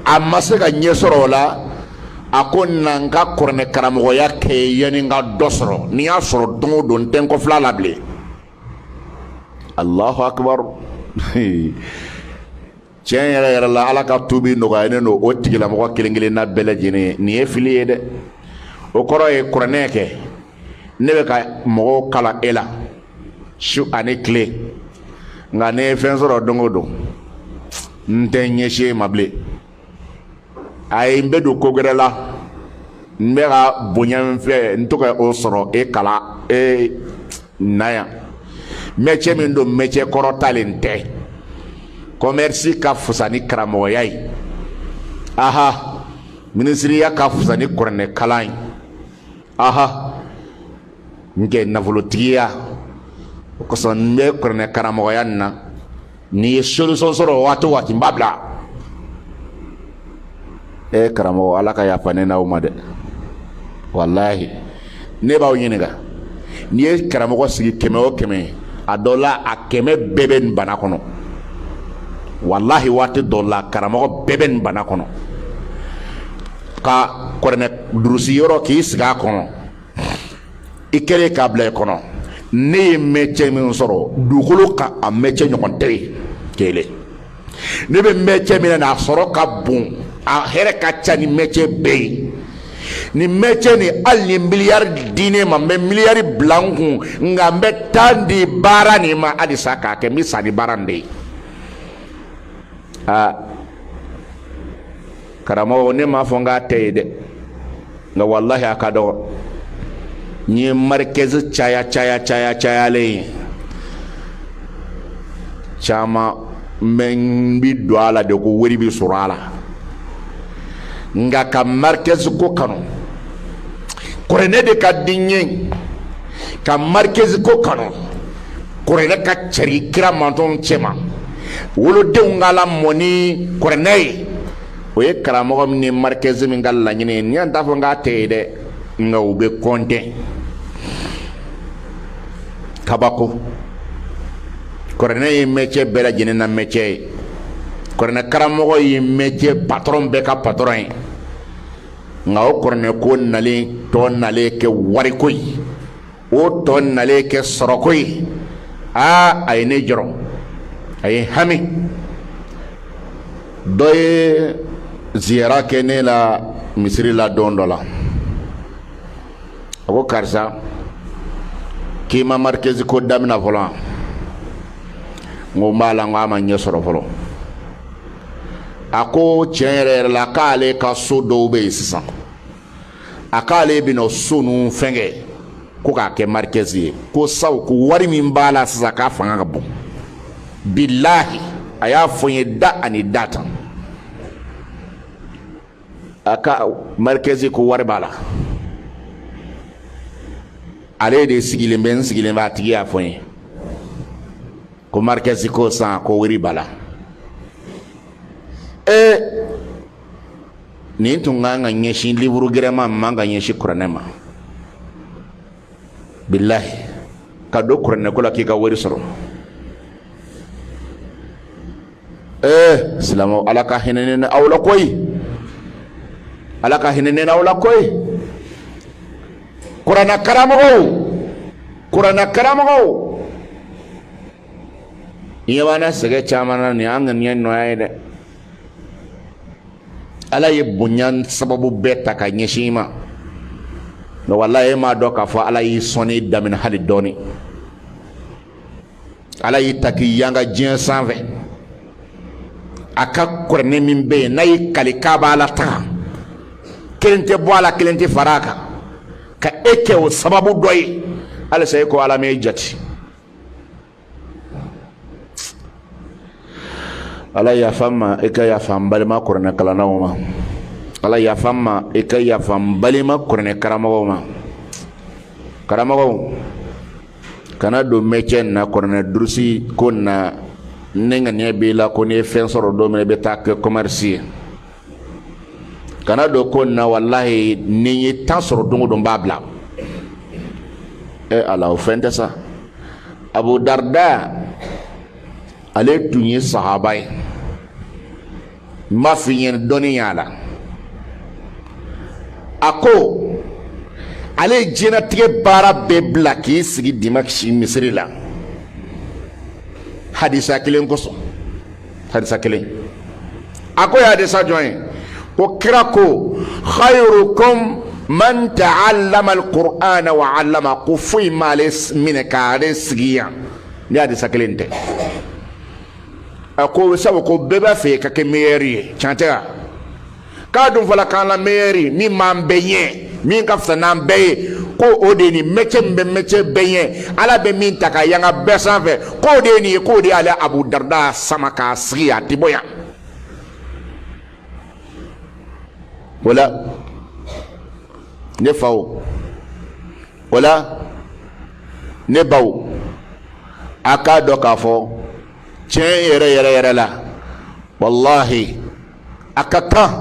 a ma se ka ɲɛ sɔrɔ o la a ko na n ka kɔrɔnɛ karamɔgɔya kɛ yanni n ka dɔ sɔrɔ ni n y'a sɔrɔ don o don n tɛ n kɔ filɛ a la bilen alahu akibaru tiɲɛ yɛrɛ yɛrɛ la ala ka tubi nɔgɔya ne n'o tigilamɔgɔ kelen kelenna bɛɛ lajɛlen ye nin ye fili ye dɛ o kɔrɔ ye kuranɛ kɛ ne bɛ ka mɔgɔw kalan e la su ani tile nka ne ye fɛn sɔrɔ don o don n tɛ n ɲɛsin e ma bilen ayi n bɛ don ko gwɛrɛ la n bɛ ka bonya min fɛ n tɛ ka o sɔrɔ e kalan e na yan mɛcɛ min don mɛcɛ kɔrɔtalen tɛ kɔmɛrisi ka fusa ni karamɔgɔya ye aha minisiriya ka fusa ni kuranɛkalan ye aha n kɛ nafolotigiya o kosɔn n bɛ kuranɛ karamɔgɔya nin na ni n ye solution sɔrɔ waati o waati n b'a bila ee karamɔgɔ ala ka yafa ne n'aw ma dɛ walahi ne b'aw ɲininka n'i ye karamɔgɔ sigi kɛmɛ o kɛmɛ a dɔ la a kɛmɛ bɛɛ bɛ nin bana kɔnɔ walahi waati dɔ la karamɔgɔ bɛɛ bɛ nin bana kɔnɔ ka kɔrɔnɛ durusi yɔrɔ k'i sigi a kɔnɔ i kɛlen k'a bila i kɔnɔ ne ye mɛcɛ min sɔrɔ dugukolo kan a mɛcɛ ɲɔgɔn tɛ yen kelen ne bɛ mɛcɛ min na a sɔrɔ ka bon a hɛrɛ ka ca ni mɛcɛ bɛɛ ye ni mɛcɛ nin hali ni miliyari di ne ma n bɛ miliyari bila n kun nka n bɛ tan di baara nin ma halisa k'a kɛ n bɛ sa ni baara nin de ye aa karamɔgɔ ne m'a fɔ n k'a tɛ yen dɛ nka walahi a ka dɔgɔ n'i ye marikɛzi caya cayalen ye caman min bi don a la de ko wari bi sɔrɔ a la nka ka marikɛzi ko kanu kɔrɛnɛ de ka di n ye ka marikɛzi ko kanu kɔrɛnɛ ka cari kira mantɔn cɛma wolodenw ka lamɔ ni kɔrɛnɛ ye o ye karamɔgɔ min ni marikɛzi min ka laɲini ye ni y'an t'a fɔ n k'a tɛ yen dɛ nka u bɛ kɔnte kabako kɔrɛnɛ ye mɛcɛ bɛɛ lajɛlen na mɛcɛ ye kɔrɛnɛ karamɔgɔ ye mɛcɛ patɔrɔn bɛɛ ka patɔrɔn ye nka o kɔrɔnɛko nalen tɔ nalen kɛ wariko ye o tɔ nalen kɛ sɔrɔko ye aa a ye ne jɔrɔ a ye hami dɔ ye ziyara kɛ ne la misiri la don dɔ la a ko karisa k'i ma marikɛzi ko damina fɔlɔ wa n ko n b'a la n ko a ma ɲɛ sɔrɔ fɔlɔ a ko tiɲɛ yɛrɛ yɛrɛ la k'ale ka so dɔw bɛ yen sisan a k'ale bɛna so ninnu fɛnkɛ ko k'a kɛ marikɛzi ye ko sabu ko wari min b'a la sisan k'a fanga ka bon bilahi a y'a fɔ n ye da ani da tan a ka marikɛzi ko wari b'a la ale de sigilen bɛ n sigilen bɛ a tigi y'a fɔ n ye ko marikɛzi ko san ko wari b'a la ee nin tun ka kan ka ɲɛsin liburu gɛrɛ ma man ka ɲɛsin kuranɛ ma bilahi ka don kuranɛ ko la k'i ka wari sɔrɔ ee silamɛw ala ka hinɛ ne aw la koyi ala ka hinɛ ne aw la koyi kuranɛ karamɔgɔw kuranɛ karamɔgɔw ɲɛ b'an na sɛgɛn caman na nin y'an ŋaniya nɔ ye dɛ ala ye bonya sababu bɛɛ ta ka ɲɛsin i ma nka walayi e m'a dɔn k'a fɔ ala y'i sɔnni daminɛ hali dɔɔnin ala y'i ta k'i yanga diɲɛ sanfɛ a ka kuranɛ min bɛ yen n'a y'i kali k'a b'a latanga kelen tɛ bɔ a la kelen tɛ fara a kan ka e kɛ o sababu dɔ ye halisa e ko ala m'e jate ala yafa n ma i ka yafa n balima kuranɛ kalannaw ma ala yafa n ma i ka yafa n balima kuranɛ karamɔgɔw ma karamɔgɔw kana don mɛcɛ in na kuranɛ durusi ko in na n'e ŋaniya b'i la ko n'i ye fɛn sɔrɔ don min i bɛ taa kɛ kɔmɛrisi ye kana don ko in na walahi n'i ye tan sɔrɔ don o don b'a bila e ala o fɛn tɛ sa abu darda ale tun ye sahaba ye n b'a f'i ɲɛna dɔnniya la a ko ale ye diɲɛnatigɛ baara bɛɛ bila k'i sigi dimasiki misiri la hadisa kelen kosɔn hadisa kelen a k'o ye hadisa jɔn ye ko kira ko khayrukum man ta'allama alqur'ana wa 'allama ko foyi m'ale minɛ k'ale sigi yan ni hadisa kelen tɛ a ko sabu ko bɛɛ b'a fɛ ka kɛ meyɛri ye tiɲɛ tɛ wa k'a dun fɔla k'an la meyɛri min b'an bɛɛ ɲɛ min ka fisa n'an bɛɛ ye ko o de ye nin mɛcɛ min bɛ mɛcɛ bɛɛ ɲɛ ala bɛ min ta ka yanga bɛɛ sanfɛ k'o de ye nin ye k'o de y'ale abu darda sama k'a sigi a tɛ bɔ yan o la ne faw o la ne baw a k'a dɔn k'a fɔ tiɲɛ yɛrɛ yɛrɛ yɛrɛ la walahi a ka kan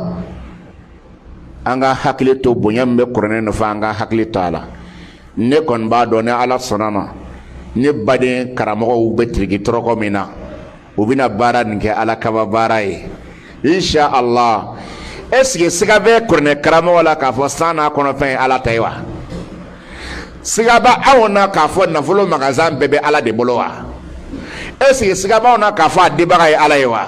an ka hakili to bonya min bɛ kuranɛ nɔfɛ an ka hakili to a la ne kɔni b'a dɔn ni ala sɔnna ma ne baden karamɔgɔw bɛ tiriki tɔrɔkɔ min na u bɛna baara nin kɛ ala kama baara ye insha allah est ce que siga bɛ kuranɛ karamɔgɔ la k'a fɔ san n'a kɔnɔfɛn ye ala ta ye wa siga b'anw na k'a fɔ nafolo magasan bɛɛ bɛ ala de bolo wa est ce que siga b' anw na k'a fɔ a dibaga ye ala ye wa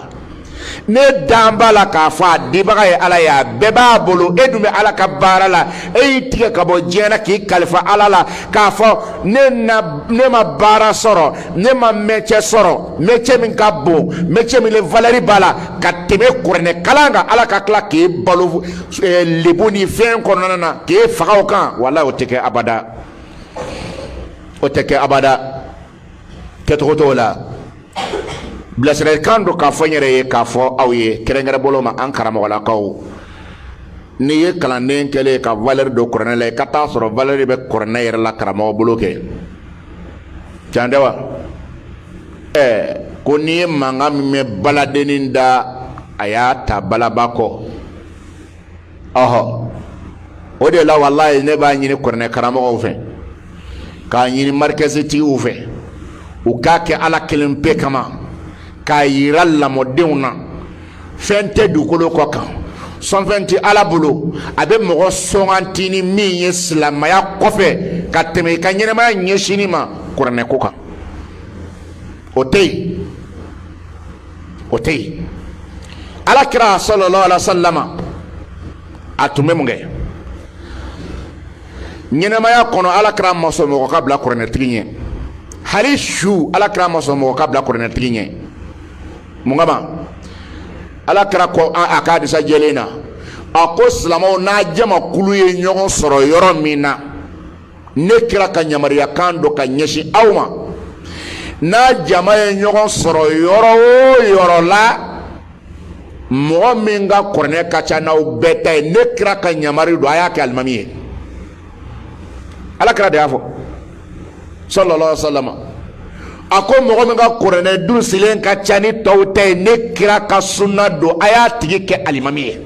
ne dan b'a la k'a fɔ a dibaga ye ala ye a bɛɛ b'a bolo e dun bɛ ala ka baara la e y'i tigɛ ka bɔ diɲɛ na k'i kalifa ala la k'a fɔ ne ma baara sɔrɔ ne ma mɛcɛ sɔrɔ mɛcɛ min ka bon mɛcɛ min valɛri b'a la ka tɛmɛ kuranɛ kalan kan ala ka tila k'e balo lebu ni fɛn kɔnɔna na k'e faga o kan walayi o tɛ kɛ abada o tɛ kɛ abada kɛcogo t'o la bilasiralikan don k'a fɔ n yɛrɛ ye k'a fɔ aw ye kɛrɛnkɛrɛn bolo ma an karamɔgɔlakaw n'i ye kalanden kɛlen ka valɛri don kuranɛ la i ka t'a sɔrɔ valɛri bɛ kuranɛ yɛrɛ la karamɔgɔ bolo kɛ can tɛ wa ɛɛ ko n'i ye mankan min mɛn baladennin da a y'a ta balaba kɔ ɔhɔ o de la walayi ne b'a ɲini kuranɛ karamɔgɔw fɛ k'a ɲini marikɛsitigiw fɛ u k'a kɛ ala kelen pe kama k'a yira lamɔdenw na fɛn tɛ dugukolo kɔ kan sɔnfɛn tɛ ala bolo a bɛ mɔgɔ sɔnganti ni min ye silamɛya kɔfɛ ka tɛmɛ i ka ɲɛnɛmaya ɲɛsinni ma kuranɛ ko kan o tɛ yen o tɛ yen ala kira sallallahu alaihi wasallam a tun bɛ mun kɛ ɲɛnɛmaya kɔnɔ ala kira ma sɔn mɔgɔ ka bila kuranɛtigi ɲɛ hali su ala kira ma sɔn mɔgɔ ka bila kuranɛtigi ɲɛ mun kama ala kira ko a ka hadisa jɛlen na a ko silamɛw n'a jamakulu ye ɲɔgɔn sɔrɔ yɔrɔ min na ne kira ka yamaruyakan don ka ɲɛsin aw ma n'a jama ye ɲɔgɔn sɔrɔ yɔrɔ o yɔrɔ la mɔgɔ min ka kuranɛ ka ca n'aw bɛɛ ta ye ne kira ka yamari don a y'a kɛ alimami ye ala kira de y'a fɔ sallallahu alaihi wa sallam a ko mɔgɔ min ka kuranɛ durusilen ka ca ni tɔw ta ye ne kira ka sunna don a y'a tigi kɛ alimami ye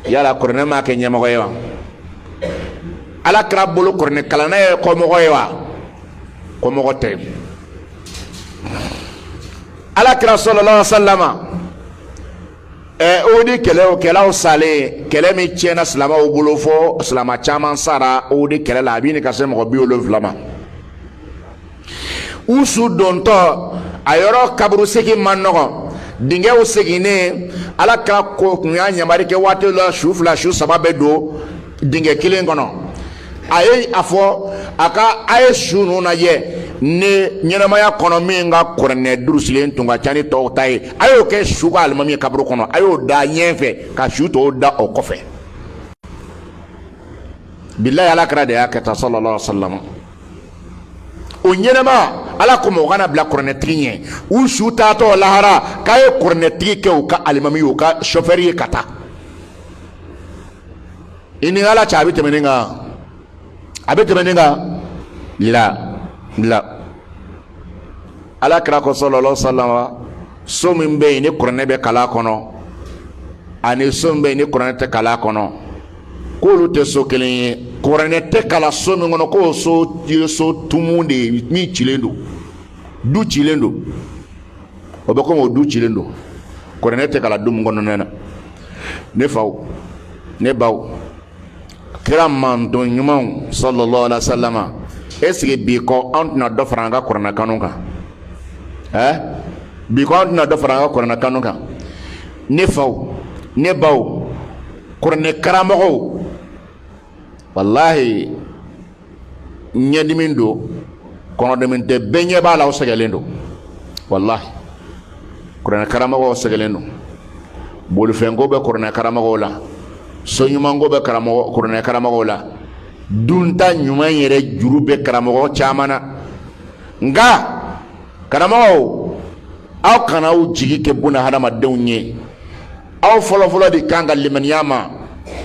yala kuranɛ m'a kɛ ɲɛmɔgɔ ye wa ala kira bolo kuranɛ kalanna ye kɔmɔgɔ ye wa kɔmɔgɔ tɛ ala kira sallallahu alaihi wa sallam ɛ uhudi kɛlɛkɛlaw salen kɛlɛ min tiɲɛna silamɛw bolo fɔ silamɛ caman sara uhudi kɛlɛ la a b'a ɲini ka se mɔgɔ bi wolonwula ma u su dontɔ a yɔrɔ kaburu segin man nɔgɔn dingɛw seginnen ala kira ko kun y'a yamari kɛ waati la su fila su saba bɛ don dingɛ kelen kɔnɔ a ye a fɔ a ka a ye su ninnu lajɛ ni ɲɛnamaya kɔnɔ min ka kuranɛ durusilen tun ka ca ni tɔw ta ye a y'o kɛ su ka alimami kaburu kɔnɔ a y'o da ɲɛ fɛ ka su tɔw da o kɔfɛ bilayi ala kira de y'a kɛ tan sallallahu alaihi wa sallam o ɲɛnama ala ko mɔgɔ kana bila kuranɛtigi ɲɛ u su taatɔ lahara k'a ye kuranɛtigi kɛ u ka alimami ye u ka sɔfɛri ye ka taa i ni ala cɛ a bɛ tɛmɛ nin kan a bɛ tɛmɛ nin kan la la ala kira ko sallallahu alaihi wa sallam so min bɛ yen ni kuranɛ bɛ kala kɔnɔ ani so min bɛ yen ni kuranɛ tɛ kala kɔnɔ k'olu tɛ so kelen ye kuranɛ tɛ kala so min kɔnɔ k'o so ye so tumu de ye min cilen don du cilen don o bɛ komi o du cilen don kuranɛ tɛ kala du min kɔnɔna na ne faw ne baw kira mantɔn ɲumanw sallallahu alaihi wasallam est ce que bi kɔ an tɛna dɔ fara an ka kuranɛ kanu kan ɛɛ bi kɔ an tɛna dɔ fara an ka kuranɛ kanu kan ne faw ne baw kuranɛ karamɔgɔw walahi ɲɛdimi don kɔnɔdimi tɛ bɛɛ ɲɛ b'a la u sɛgɛlen don walahi kuranɛ karamɔgɔw sɛgɛlen don bolifɛnko bɛ kuranɛ karamɔgɔw la so ɲumanko bɛ kuranɛ karamɔgɔw la dunta ɲuman yɛrɛ juru bɛ karamɔgɔ caman na nka karamɔgɔw aw kana aw jigi kɛ buna hadamadenw ye aw fɔlɔfɔlɔ de kan ka limaniya ma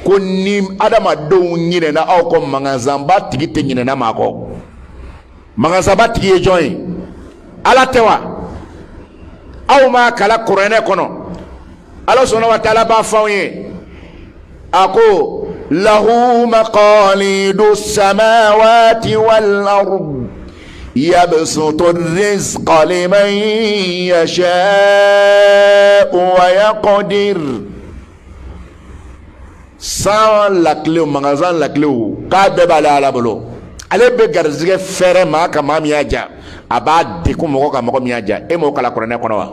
ko ni adamadenw ɲinɛna aw kɔ magasanba tigi tɛ ɲinɛna maa kɔ magasanba tigi ye jɔn ye ala tɛ wa aw m'a kala kuranɛ kɔnɔ ala subhanahu wa taala b'a fɔ anw ye a ko lahu maqalidu samawati wal ard yabsutu rizqa liman yashau wa yaqdir san lakilew magasan lakilew k'a bɛɛ b'ale ala bolo ale bɛ garijɛgɛ fɛrɛ maa kan maa min y'a diya a b'a degun mɔgɔ kan mɔgɔ min y'a diya e m'o kala kuranɛ kɔnɔ wa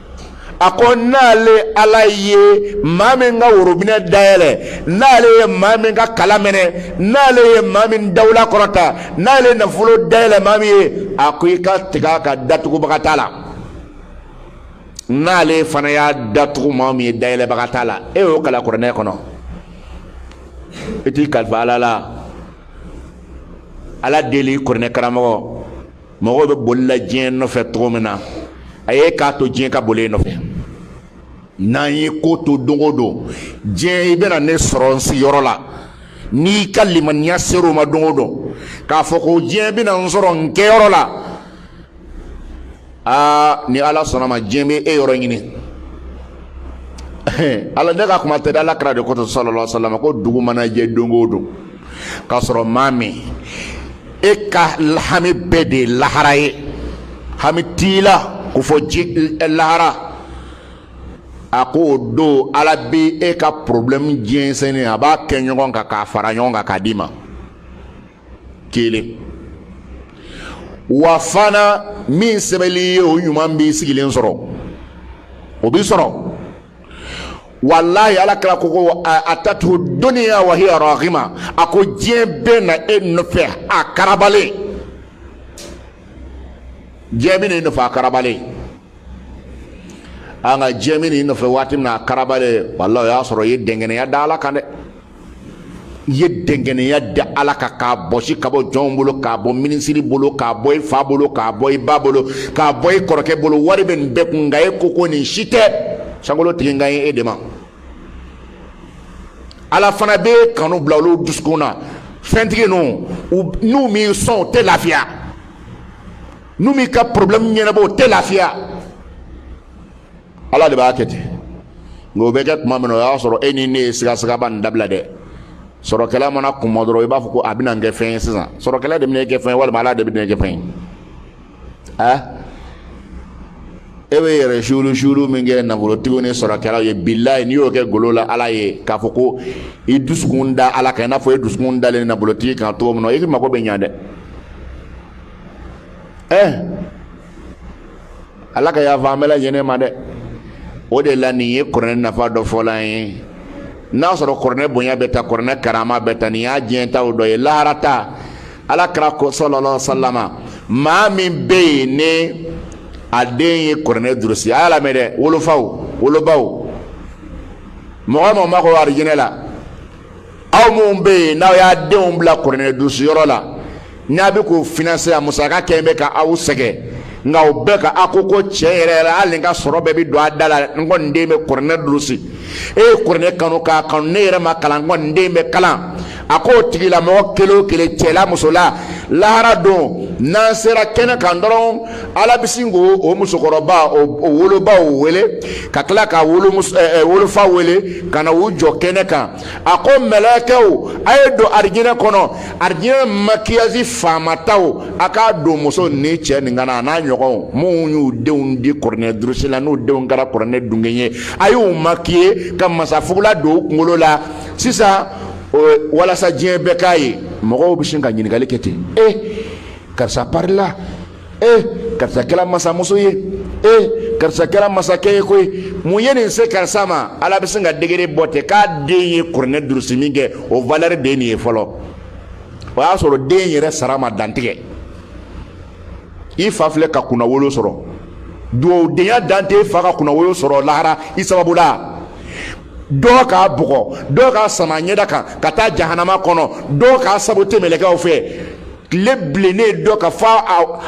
a ko n'ale ala ye maa min ka worobinɛ dayɛlɛ n'ale ye maa min ka kala mɛnɛ n'ale ye maa min dawula kɔrɔta n'ale ye nafolo dayɛlɛ maa min ye a ko i ka tigɛ a kan datugubaga t'a la n'ale fana y'a datugu maa min ye dayɛlɛbaga t'a la e y'o kala kuranɛ kɔnɔ i t'i kalifa ala la ala deli kuranɛ karamɔgɔ mɔgɔw bɛ bolila diɲɛ nɔfɛ cogo min na a ye k'a to diɲɛ ka boli e nɔfɛ n'an ye ko to don o don diɲɛ i bɛna ne sɔrɔ n sigiyɔrɔ la n'i ka limaniya sera o ma don o don k'a fɔ ko diɲɛ bɛna n sɔrɔ n kɛyɔrɔ la aa ni ala sɔnna ma diɲɛ bɛ e yɔrɔ ɲini ala ne ka kuma tɛ ala kira de ko sallallahu alaihi wasallam ko dugu mana jɛ don o don k'a sɔrɔ maa min e ka hami bɛɛ de ye lahara ye hami t'i la ko fɔ ji lahara a ko o don ala bɛ e ka porobilɛmu jɛnsɛnnen a b'a kɛ ɲɔgɔn kan k'a fara ɲɔgɔn kan k'a d'i ma kelen wa fana min sɛbɛnl'i ye o ɲuman b'i sigilen sɔrɔ o b'i sɔrɔ walahi ala kira ko ko atathu dunya wa hiya raghima a ko diɲɛ bɛ na e nɔfɛ a karabalen diɲɛ bɛ na e nɔfɛ a karabalen nka diɲɛ bɛ na e nɔfɛ waati min na a karabalen walahi o y'a sɔrɔ i ye dɛngɛnɛya da ala kan dɛ i ye dɛnkɛnɛya da ala kan k'a bɔsi ka bɔ jɔnw bolo k'a bɔ minisiri bolo k'a bɔ i fa bolo k'a bɔ i ba bolo k'a bɔ i kɔrɔkɛ bolo wari bɛ nin bɛɛ kun nka e ko ko nin si tɛ sankolo tigi n kan ye e de ma ala fana bɛ kanu bila olu dusukun na fɛntigi ninnu n'u m'i sɔn o tɛ lafiya n'u m'i ka problème ɲɛnabɔ o tɛ lafiya ala de b'a kɛ ten nka o bɛ kɛ tuma min na o y'a sɔrɔ e ni ne ye sigasigaba nin dabila dɛ sɔrɔkɛla mana kuma dɔrɔn i b'a fɔ ko a bɛna n kɛ fɛn ye sisan sɔrɔkɛla de bɛna kɛ fɛn ye walima ala de bɛna kɛ fɛn ye ɛ e bɛ yɛrɛ suuru suuru min kɛ nafolotigiw ni sɔrɔkɛlaw ye bilayi n'i y'o kɛ golo la ala ye k'a fɔ ko i dusukun da ala kan i n'a fɔ e dusukun dalen nafolotigi kan cogo min na i mago bɛ ɲa dɛ ɛ ala ka yafa an bɛɛ lajɛlen ma dɛ o de la nin ye kuranɛ nafa dɔ fɔla an ye n'a sɔrɔ kuranɛ bonya bɛ ta kuranɛ karama bɛ ta nin y'a diɲɛtaw dɔ ye laharata ala kira ko sallallahu alaihi wasallam maa min bɛ yen ni a den ye kuranɛ durusi a y'a lamɛn dɛ wolofaw wolobaw mɔgɔ mɔgɔ mako arijinɛ la aw minnu bɛ yen n'aw y'a denw bila kuranɛ durusi yɔrɔ la n'a bɛ k'o financer a musaka kɛ bɛ ka aw sɛgɛn nka o bɛɛ ka a ko ko tiɲɛ yɛrɛ yɛrɛ hali n ka sɔrɔ bɛɛ bɛ don a da la n kɔni den bɛ kuranɛ durusi e ye kuranɛ kanu k'a kanu ne yɛrɛ ma kalan n kɔni den bɛ kalan a k'o tigilamɔgɔ kelen o kelen cɛla musola lahara don n'an sera kɛnɛ kan dɔrɔn ala bɛ sin k'o musokɔrɔba o wolobaw wele ka tila ka wolofa wele ka na u jɔ kɛnɛ kan a ko mɛlɛkɛw a ye don arijinɛ kɔnɔ arijinɛ makiyasi faamataw a k'a don muso ni cɛ nin kan na a n'a ɲɔgɔnw minnu y'u denw di kuranɛ durusi la n'u denw kɛra kuranɛ dungen ye a y'u makiye ka masafugula don u kunkolo la sisan walasa diɲɛ bɛɛ k'a ye mɔgɔw bɛ sin ka ɲininkali kɛ ten e karisa parila ee karisa kɛra masamuso ye ee karisa kɛra masakɛ ye koyi mun ye nin se karisa ma ala bɛ sin ka degere bɔ ten k'a den ye kuranɛ durusi min kɛ o valɛri de ye nin ye fɔlɔ o y'a sɔrɔ den yɛrɛ sara ma dantigɛ i fa filɛ ka kunnawolo sɔrɔ dugawudenya dan tɛ fa ka kunnawolo sɔrɔ lahara i sababu la dɔw k'a bugɔ dɔw k'a sama ɲɛda kan ka taa jahanama kɔnɔ dɔw k'a sabote mɛlɛkɛw fɛ tile bilennen dɔ kan fo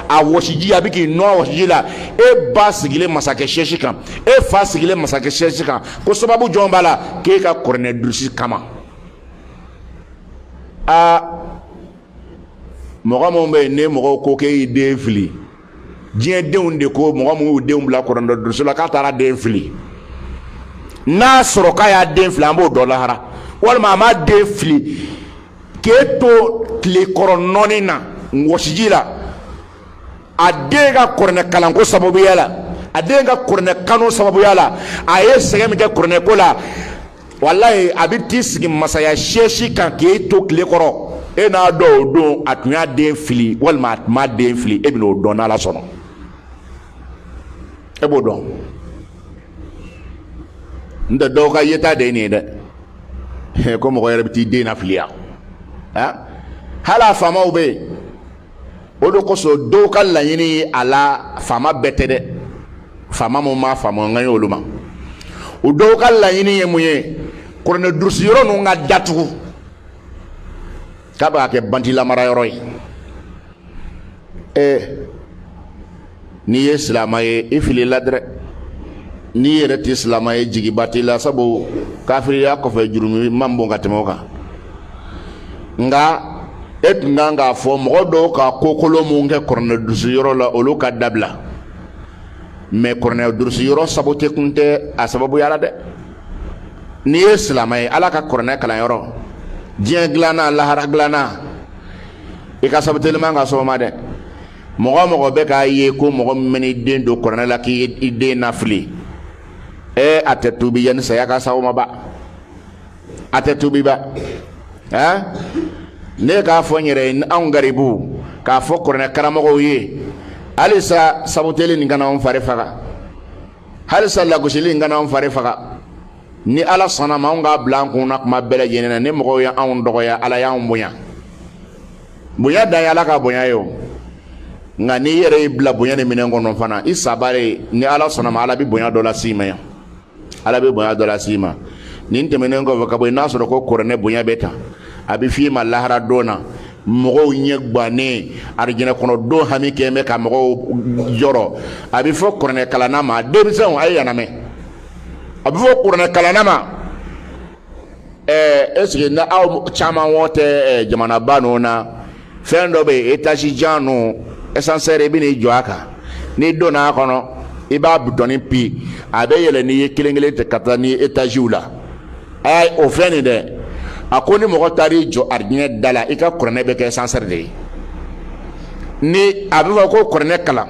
a wɔsiji a bɛ k'i nɔn wɔsiji la e ba sigilen masakɛ sɛsi kan e fa sigilen masakɛ sɛsi kan ko sababu jɔn b'a la k'e ka kuranɛ durusi kama aa mɔgɔ minnu bɛ yen ne mɔgɔw ko k'e y'i den fili diɲɛ denw de ko mɔgɔ minnu y'u denw bila kuranɛ durusi la k'a taara den fili n'a sɔrɔ k'a y'a den fili an b'o dɔn lahara walima a m'a den fili k'e to tile kɔrɔ nɔnni na wɔsiji la a den ka kuranɛ kalanko sababuya la a den ka kuranɛ kanu sababuya la a ye sɛgɛn min kɛ kuranɛko la walayi a bɛ t'i sigi masaya sɛsi kan k'e to tile kɔrɔ e n'a dɔn o don a tun y'a den fili walima a tun m'a den fili e bɛn'o dɔn n'ala sɔnna e b'o dɔn n tɛ dɔw ka yeta de ye nin ye dɛ ko mɔgɔ yɛrɛ bɛ t'i den nafili yan hali a faamaw bɛ yen o de kosɔn dɔw ka laɲini ye a la faama bɛɛ tɛ dɛ faama minnu m'a faamu n kan ye olu ma o dɔw ka laɲini ye mun ye kuranɛ durusi yɔrɔ ninnu ka datugu k'a b'a kɛ bandi lamara yɔrɔ ye ɛɛ n'i ye silamɛ ye i filila dɛ n'i yɛrɛ tɛ silamɛ ye jigiba t'i la sabu kafiriya kɔfɛ jurumi man bon ka tɛmɛ o kan nka e tun kan k'a fɔ mɔgɔ dɔw ka kokolon min kɛ kuranɛ durusi yɔrɔ la olu ka dabila mɛ kuranɛ durusi yɔrɔ sabote kun tɛ a sababuya la dɛ n'i ye silamɛ ye ala ka kuranɛ kalanyɔrɔ diɲɛ dilanna lahara dilanna i ka sabuteli man ka s'o ma dɛ mɔgɔ mɔgɔ bɛ k'a ye ko mɔgɔ min bɛn'i den don kuranɛ la k'i y'i den nafili ee a tɛ tuubi yanni saya ka s'aw ma ba a tɛ tuubi ba ɛɛ ne k'a fɔ n yɛrɛ ye anw garibu k'a fɔ kuranɛ karamɔgɔw ye halisa sabuteli nin kana anw fari faga halisa lagosili nin kana anw fari faga ni ala sɔnna ma anw k'a bila an kunna kuma bɛɛ lajɛlen na ni mɔgɔw ye anw dɔgɔya ala y'an bonya bonya dan ye ala ka bonya ye o nka n'i yɛrɛ y'i bila bonya ni minɛn kɔnɔ fana i sabari ye ni ala sɔnna ma ala bɛ bonya dɔ las'i ma yan ala bɛ bonya dɔ las'i ma nin tɛmɛnen kɔfɛ ka bɔ yen n'a sɔrɔ ko kuranɛ bonya bɛ ta a bɛ f'i ma lahara don na mɔgɔw ɲɛ gannen arijinɛ kɔnɔ don hami kɛ bɛ ka mɔgɔw jɔrɔ a bɛ fɔ kuranɛ kalanna ma denmisɛnw a ye yan lamɛn a bɛ fɔ kuranɛkalanna ma ɛɛ ɛseke na aw caman wɔ tɛ ɛɛ jamanaba ninnu na fɛn dɔ bɛ yen etazi jan ninnu asansɛri i bɛ n'i jɔ a kan n'i donna a kɔnɔ i b'a butɔni pi a bɛ yɛlɛ n'i ye kelen kelen ten ka taa ni etaziw la. aa o fɛn nin dɛ a ko ni mɔgɔ taara i jɔ arijinɛ da la i ka kuranɛ bɛ kɛ sansɛri de ye ni a bɛ fɔ ko kuranɛ kalan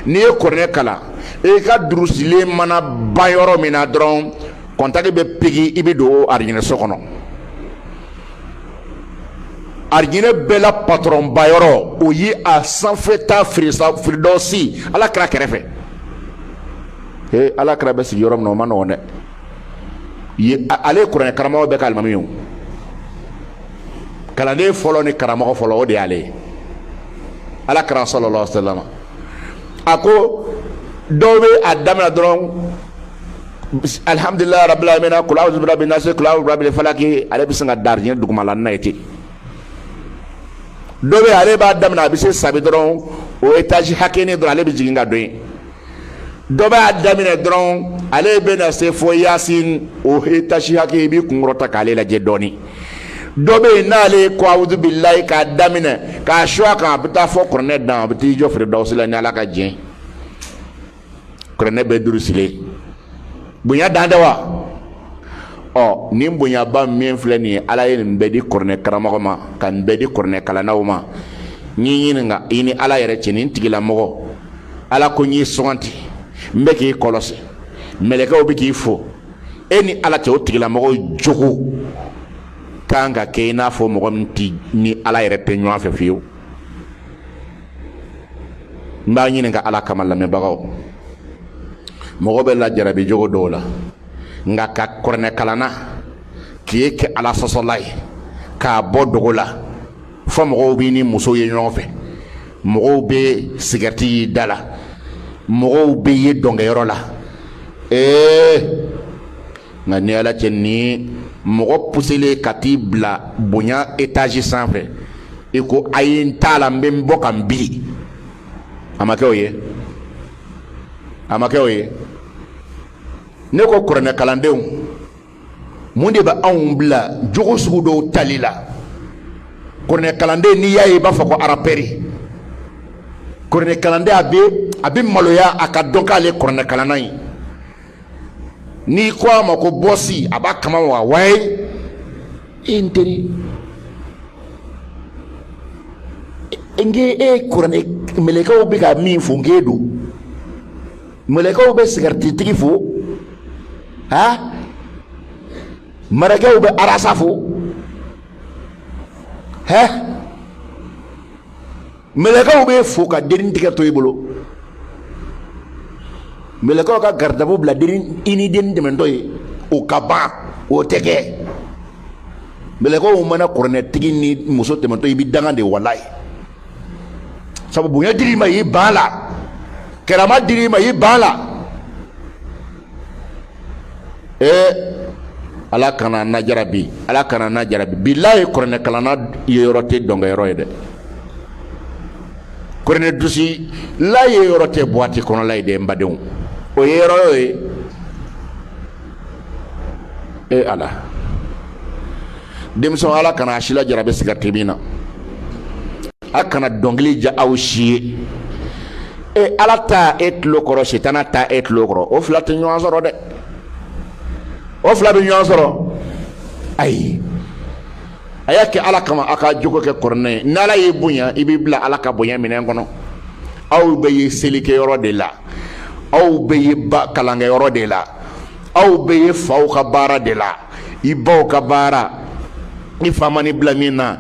n'i ye kuranɛ kalan i ka durusilen mana ban yɔrɔ min na dɔrɔn kɔntaki bɛ pigi i bɛ don arijinɛ so kɔnɔ arijinɛ bɛɛ la patɔrɔnba yɔrɔ o ye a sanfɛta firidɔsi ala kira kɛrɛfɛ ee ala kira bɛ sigi yɔrɔ min na o man nɔgɔn dɛ ale ye kuranɛ karamɔgɔ bɛɛ ka alimami ye kalanden fɔlɔ ni karamɔgɔ fɔlɔ o de y'ale ye ala kira salalahu alayihi wasalama a ko dɔw bɛ a daminɛ dɔrɔn alihamdulilayi rabil alamina kula awuzu birabi nasi kula awuzu birabi falaki ale bɛ sin ka da arijinɛ dugumala na ye ten dɔ bɛ ale b'a daminɛ a bɛ se sabi dɔrɔn o etazi hakɛnin dɔrɔn ale bɛ jigin ka don yen dɔ bɛ a daminɛ dɔrɔn ale bɛ na se fɔ yasin o etazi hakɛ i b'i kun kɔrɔta k'ale lajɛ dɔɔnin dɔ bɛ yen n'ale ko awuzu bilayi k'a daminɛ k'a su a kan a bɛ taa fɔ kuranɛ dan a bɛ t'i jɔ firidawusi la ni ala ka jɛ kuranɛ bɛɛ durusilen bonya dan tɛ wa ɔ nin bonyaba min filɛ nin ye ala ye nin bɛɛ di kuranɛ karamɔgɔ ma ka nin bɛɛ di kuranɛ kalannaw ma n y'i ɲininka i ni ala yɛrɛ cɛ nin tigilamɔgɔ ala ko n y'i suganti n bɛ k'i kɔlɔsi mɛlɛkɛw bɛ k'i fo e ni ala cɛ o tigilamɔgɔw jogo kan ka kɛ i n'a fɔ mɔgɔ min tɛ ni ala yɛrɛ tɛ ɲɔgɔn fɛ fiyewu n b'a ɲininka ala kama lamɛnbagaw mɔgɔ bɛ lajarabi jogo dɔw la nka ka kuranɛ kalanna k'i kɛ ala sɔsɔla ye k'a bɔ dogo la fɔ mɔgɔw b'i ni muso ye ɲɔgɔn fɛ mɔgɔw bɛ sigarɛti y'i da la mɔgɔw b'i ye dɔnkɛyɔrɔ la ee nka ni ala cɛ ni mɔgɔ puselen ka t'i bila bonya etaji sanfɛ i ko a ye n t'a la n bɛ n bɔ ka n biri a ma kɛ o ye a ma kɛ o ye ne ko kuranɛ kalandenw mun de bɛ anw bila jogo sugu dɔw tali la kuranɛ kalanden n'i y'a ye i b'a fɔ ko arapɛri kuranɛ kalanden a bɛ a bɛ maloya a ka dɔn k'ale kuranɛ kalanna ye n'i ko a ma ko bɔsi a b'a kama wa waye e n teri n k'e kuranɛ mɛlɛkɛw bɛ ka min fo n k'e don mɛlɛkɛw bɛ sigarititigi fo ha mɛlɛkɛw bɛ arasa fo hɛ Mɛlɛkɛw bɛ fo ka denin tigɛ to i bolo mɛlɛkɛw ka garidabu bila i ni denin tɛmɛtɔ ye o ka ban o tɛ kɛ mɛlɛkɛw mana kuranɛtigi ni muso tɛmɛtɔ ye i bɛ danga de walayi sabu bonya dir'i ma i ban a la karama dir'i ma i ban a la ee ala kan'an najarabi ala kan'an najarabi bilahi kuranɛkalanna yeyɔrɔ tɛ dɔnkɛyɔrɔ ye dɛ kuranɛ durusila yeyɔrɔ tɛ buwati kɔnɔla ye dɛ n badenw o yeyɔrɔ y'o ye e ala denmisɛnw ala kana a si lajarabi sigariti min na a kana dɔnkili diya aw si ye e ala ta e tulo kɔrɔ sitana ta e tulo kɔrɔ o fila tɛ ɲɔgɔn sɔrɔ dɛ o fila bɛ ɲɔgɔn sɔrɔ ayi a y'a kɛ ala kama a ka jogo kɛ kuranɛ ye n'ala y'i bonya i b'i bila ala ka bonya minɛn kɔnɔ aw bɛ ye selikɛyɔrɔ de la aw bɛ ye ba kalankɛyɔrɔ de la aw bɛ ye faw ka baara de la i baw ka baara i fa man'i bila min na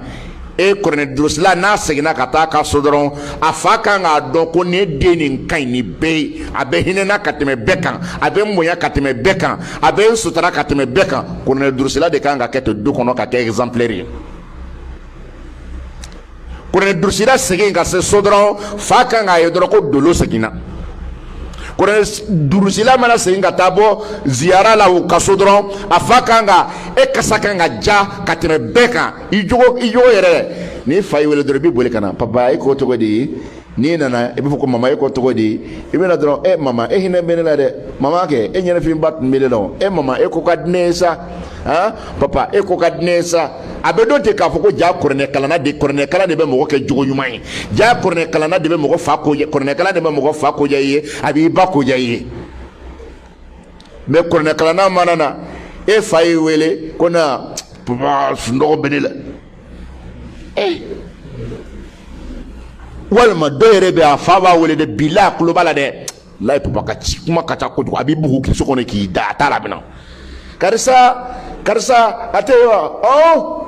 e kuranɛ durusila n'a seginna ka taa ka so dɔrɔn a fa kan k'a dɔn ko ne den nin ka ɲi ni bɛɛ ye a bɛ hinɛ n na ka tɛmɛ bɛɛ kan a bɛ n bonya ka tɛmɛ bɛɛ kan a bɛ n sutura ka tɛmɛ bɛɛ kan kuranɛ durusila de kan ka kɛ to du kɔnɔ ka kɛ exemplaire ye Kuranɛ durusila segin ka se so dɔrɔn fa kan k'a ye dɔrɔn ko dolo seginna kuranɛ durusila mana segin ka taa bɔ ziyara la u ka so dɔrɔn a fa kan ka e kasa kan ka diya ka tɛmɛ bɛɛ kan i jogo yɛrɛ n'i fa y'i weele dɔrɔn i bɛ boli ka na papa e k'o tɔgɔ de ye n'i nana i b'a fɔ ko mama e ko cogo di i bɛ na dɔrɔn e mama e hinɛ bɛ ne la dɛ mama kɛ e ɲɛnafinba tun bɛ ne la e mama e ko ka di ne ye sa han papa e ko ka di ne ye sa a bɛ dɔn ten k'a fɔ ko jaa kuranɛkalanna de kuranɛkalan de bɛ mɔgɔ kɛ jogo ɲuman ye jaa kuranɛkalanna de bɛ mɔgɔ fa ko kuranɛkalan de bɛ mɔgɔ fa ko diya i ye a b'i ba ko diya i ye mɛ kuranɛkalanna mana na e fa y'i wele ko na papa sunɔgɔ bɛ ne la eh. walima dɔ yɛrɛ bɛ a fa b'a wele dɛ bi la a tulo b'a la dɛ layi papa ka ci kuma ka ca kojugu a b'i bugu k'i so kɔnɔ k'i da a t'a laminɛ karisa karisa a tɛ yen wa ɔ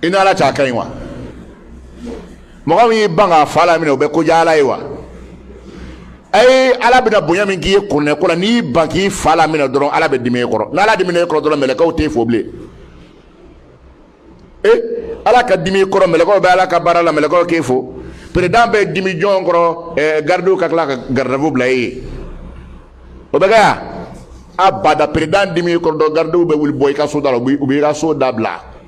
i ni ala cɛ a ka ɲi wa. mɔgɔ min y'i ban k'a fa laminɛ o bɛ ko diya ala ye wa a ye ala bɛna bonya min k'i ye kuranɛ ko la n'i y'i ban k'i fa laminɛ dɔrɔn ala bɛ dimi e kɔrɔ n'ala dimina e kɔrɔ dɔrɔn mɛlɛkaw t'e fo bilen e ala ka dimi e kɔrɔ mɛlɛkaw bɛ ala ka baara la mɛlɛkaw k'e fo peresidan bɛ dimi jɔn kɔrɔ eh, garidiw ka tila ka garidavu bila e ye o bɛ kɛ yan abada peresidan dimi e kɔrɔ don garidiw bɛ wuli bɔ i ka so da la u b'i ka so da bila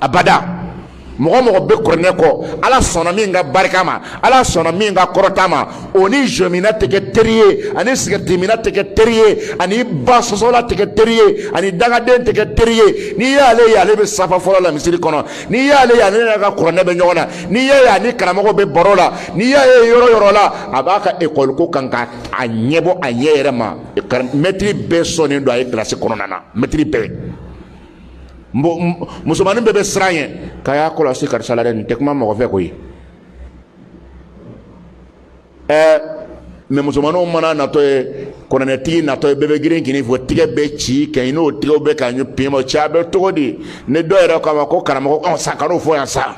abada mɔgɔ o mɔgɔ bɛ kuranɛ kɔ ala sɔnna min ka barika ma ala sɔnna min ka kɔrɔta ma o ni jɔminna tɛ kɛ teri ye a ni sigarɛtiminna tɛ kɛ teri ye a ni basɔsɔla tɛ kɛ teri ye a ni dangaden tɛ kɛ teri ye n'i y'ale ye ale bɛ safa fɔlɔ la misiri kɔnɔ n'i y'ale ye ale n'a ka kuranɛ bɛ ɲɔgɔn na n'i y'a ye a ni karamɔgɔw bɛ baro la n'i y'a ye yɔrɔ o yɔrɔ la a b'a ka ekɔli ko kan ka a ɲɛbɔ a ɲɛ yɛrɛ ma mɛtiri bɛɛ sɔnnen don a ye kilasi kɔnɔna na mɛtiri bɛɛ musomannin bɛɛ bɛ siran ɲɛ k'a y'a kɔlɔsi karisa la dɛ nin tɛ kuma mɔgɔ fɛ koyi ɛɛ mɛ musomanninw mana natɔ ye kuranɛtigi natɔ ye bɛɛ bɛ girin ka n'i fo tigɛ bɛ ci kɛ n'o tigɛw bɛ ka ɲɛ pema cɛ a bɛ cogo di ni dɔw yɛrɛ k'a ma ko karamɔgɔ ɔ sa kan'o fɔ yan sa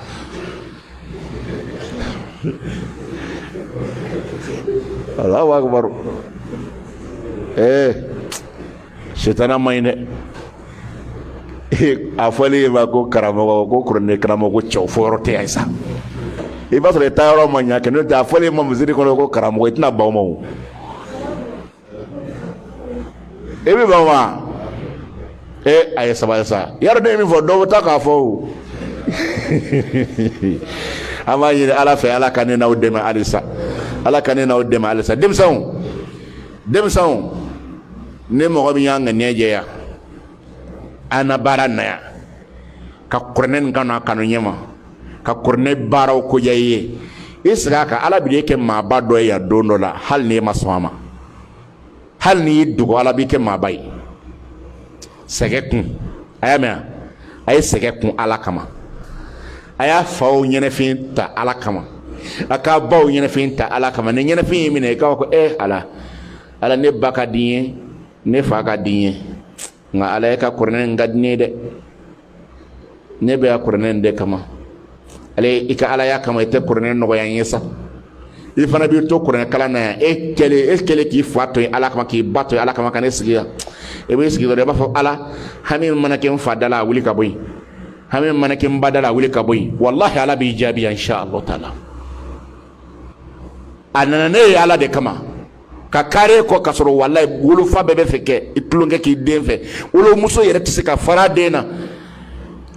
Allahu akbar ee setana ma ɲi dɛ a fɔlen ma ko karamɔgɔ ko kuranɛ karamɔgɔ ko cɛw fɔ yɔrɔ tɛ yan sa i b'a sɔrɔ i taa yɔrɔ ma ɲa kɛ n'o tɛ a fɔlen ma misiri kɔnɔ ko karamɔgɔ i tɛna ban ma o e bɛ ban wa e a ye sabali sa yɔrɔ ne ye min fɔ dɔw bɛ taa k'a fɔ o an b'a ɲini ala fɛ ala ka ne n'aw dɛmɛ halisa ala ka ne n'aw dɛmɛ halisa denmisɛnw denmisɛnw ni mɔgɔ min y'a ŋaniya jɛya an na baara na yan ka kuranɛ nin kanu a kanu ɲɛma ka kuranɛ baaraw ko diya i ye i sigi a kan ala b'i kɛ maaba dɔ ye yan don dɔ la hali n'i ma sɔn a ma hali n'i y'i dogo ala b'i kɛ maaba ye sɛgɛ kun a y'a mɛn a ye sɛgɛ kun ala kama a y'a faw ɲɛnafin ta ala kama a k'a baw ɲɛnafin ta ala kama ni ɲɛnafin y'i minɛ i k'a fɔ ko e eh, ala ala ne ba ka di n ye ne fa ka di n ye nka ala e ka kuranɛ in ka di n ye dɛ ne bɛ yan kuranɛ de kama ala i ka alaya kama i tɛ kuranɛ nɔgɔya n ye sa i fana b'i to kuranɛ kalan na yan e kɛlen e kɛlen k'i fa to yen ala kama k'i ba to yen ala kama ka n'i sigi yan e b'i sigi dɔrɔn i b'a fɔ ala hami mana kɛ n fa da la a wuli ka bɔ yen hami mana kɛ n ba da la a wuli ka bɔ yen walahi ala b'i jaabi yan insha allah taala a nana ne ye ala de kama ka kari e kɔ ka sɔrɔ walahi wolofa bɛɛ b'a fɛ k'i tulonkɛ k'i den fɛ wolomuso yɛrɛ tɛ se ka fara den na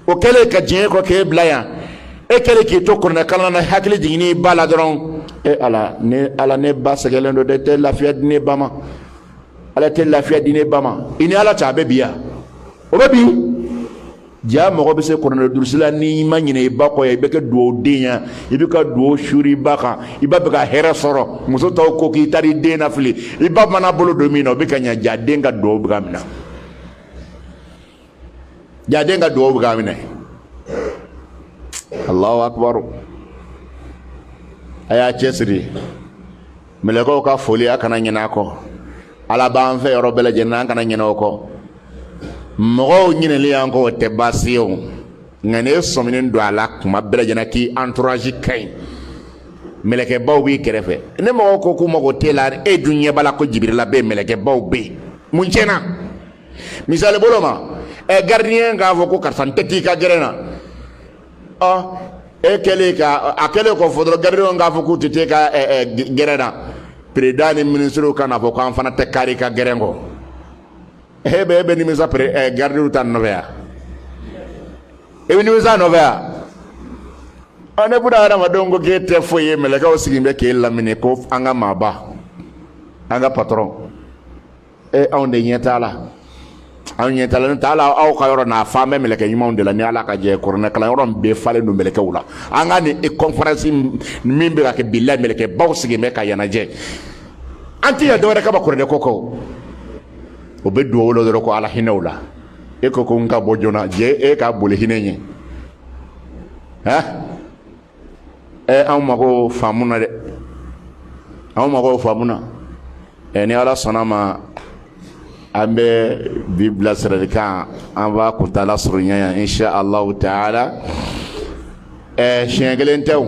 o kɛlen ka jɛn e kɔ k'e bila yan e kɛlen k'i to kuranɛ kalan na hakili jigin i ba la dɔrɔn e ala ne ala ne ba sɛgɛlen don dɛ tɛ lafiya di ne ba ma ala tɛ lafiya di ne ba ma i ni ala cɛ a bɛ bi yan o bɛ bi jaa mɔgɔ bɛ se kuranɛ durusi la n'i ma ɲinɛ i ba kɔ yan i bɛ kɛ dugawuden ye i bɛ ka dugawu suuri i ba kan i ba bɛ ka hɛrɛ sɔrɔ muso tɔw ko k'i taara i den nafili i ba mana bolo don min na o bɛ ka ɲa jaa den ka dugawu bɛ ka minɛ jaa den ka dugawu bɛ ka minɛ alahu akibaru a y'a cɛsiri mɛlɛkɛw ka foli a kana ɲinɛ a kɔ ala b'an fɛ yɔrɔ bɛɛ lajɛlen an kana ɲinɛ o kɔ mɔgɔw ɲinɛli y'an kɔ o tɛ baasi ye o nka n'e sɔminen don a la kuma bɛɛ lajɛlen k'i entourage ka ɲi mɛlɛkɛbaw b'i kɛrɛfɛ ni mɔgɔw ko k'u mago t'e la e dun ɲɛ b'a la ko jibirila bɛ yen mɛlɛkɛbaw bɛ yen mun tiɲɛna misali bolo ma ɛ gardien k'a fɔ ko karisa n tɛ t'i ka gɛrɛn na e kɛlen ka a kɛlen k'o fɔ dɔrɔn garidiw k'a fɔ k'u tɛ t'e ka gɛrɛn na peresidan ni minisiriw ka n'a fɔ k'an fana tɛ kari i ka gɛrɛn kɔ e bɛ e bɛ nimisa pere garidiw ta nɔfɛ yan e bɛ nimisa nɔfɛ yan ɔ ni buna hadamadenw ko k'e tɛ foyi ye mɛlɛkɛw sigilen bɛ k'e lamini ko an ka maaba an ka patɔrɔn e anw de ɲɛ t'a la anw ɲɛ t'a la n'o tɛ hali aw ka yɔrɔ nin falen bɛ mɛlɛkɛ ɲumanw de la ni ala ka jɛ kuranɛ kalan yɔrɔ bɛɛ falen don mɛlɛkɛw la an ka nin kɔnfaransi min bɛ ka kɛ bilayi mɛlɛkɛbaw sigilen bɛ ka yan lajɛ an tɛ yan dɔwɛrɛ kama kuranɛ ko kɔ u bɛ duwawu la dɔrɔn ko ala hinɛ u la e ko ko n ka bɔ joona jɛ e ka boli hinɛ ɲɛ han anw mago faamuna dɛ anw mago faamuna ɛ ni ala sɔnna ma an bɛ bi bilasiralikan an b'a kuntaala surunya yan insha allahu taala ɛ siɲɛ kelen tɛ o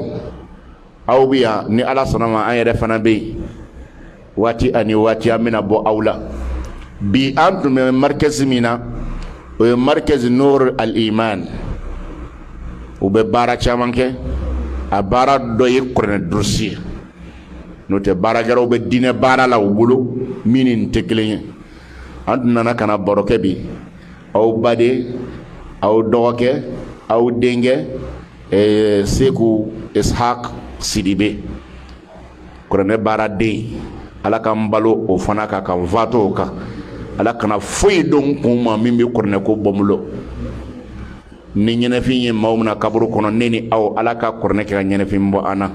aw bɛ yan ni ala sɔnna ma an yɛrɛ fana bɛ yen waati ani waati an bɛna bɔ aw la bi an tun bɛ marikɛzi min na o ye marikɛzi nor al-iman u bɛ baara caman kɛ a baara dɔ ye kuranɛ durusi ye n'o tɛ baara gɛrɛw bɛ diinɛ baara la u bolo min ni nin tɛ kelen ye an tun nana ka na baro kɛ bi aw baden aw dɔgɔkɛ aw denkɛ seku ishaq sidibe kuranɛ baaraden ala ka n balo o fana kan ka n fatu o kan ala kana foyi don kun ma min bɛ kuranɛ ko bɔ n bolo ni ɲɛnɛfin ye maaw mina kaburu kɔnɔ ne ni aw ala ka kuranɛ kɛ ka ɲɛnɛfin bɔ an na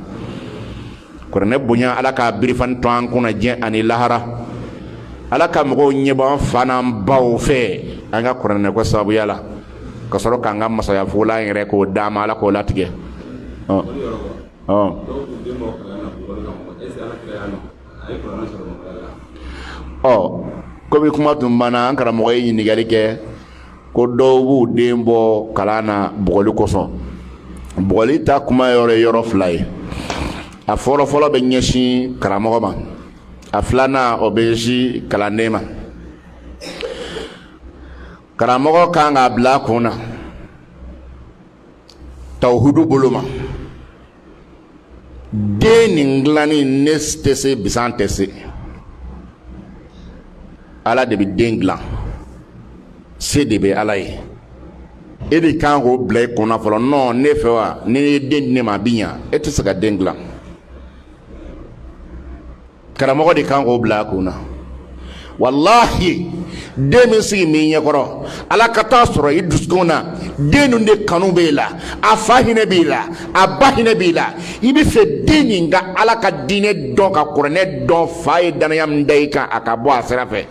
kuranɛ bonya ala ka birifani to an kunna diɲɛ ani lahara ala ka mɔgɔw ɲɛbɔ an fa n'an baw fɛ an ka kuranɛ ko sababuya la ka sɔrɔ k'an ka masaya fugula yɛrɛ k'o d'a ma ala k'o latigɛ Kɔmi kuma tun banna an karamɔgɔ ye ɲininkali kɛ ko dɔw b'u den bɔ kalan na bugɔli kosɔn bugɔli ta kuma yɔrɔ ye yɔrɔ fila ye a fɔlɔ fɔlɔ bɛ ɲɛsin karamɔgɔ ma a filanan o bɛ ɲɛsin kalanden ma karamɔgɔ kan k'a bila a kun na tawuhudu bolo ma den nin dilanni ne tɛ se bisan tɛ se ala de bɛ den dilan se de bɛ ala ye e de kan k'o bila i kunna fɔlɔ nɔn ne fɛ wa n'i ye den di ne ma a bi ɲa e tɛ se ka den dilan karamɔgɔ de kan k'o bila a kun na walahi den min sigilen b'i ɲɛkɔrɔ ala ka taa sɔrɔ i dusukun na den ninnu de kanu b'e la a fa hinɛ b'i la a ba hinɛ b'i la i bɛ fɛ den nin ka ala ka diinɛ dɔn ka kuranɛ dɔn fa ye danaya min da i kan a ka bɔ a sira fɛ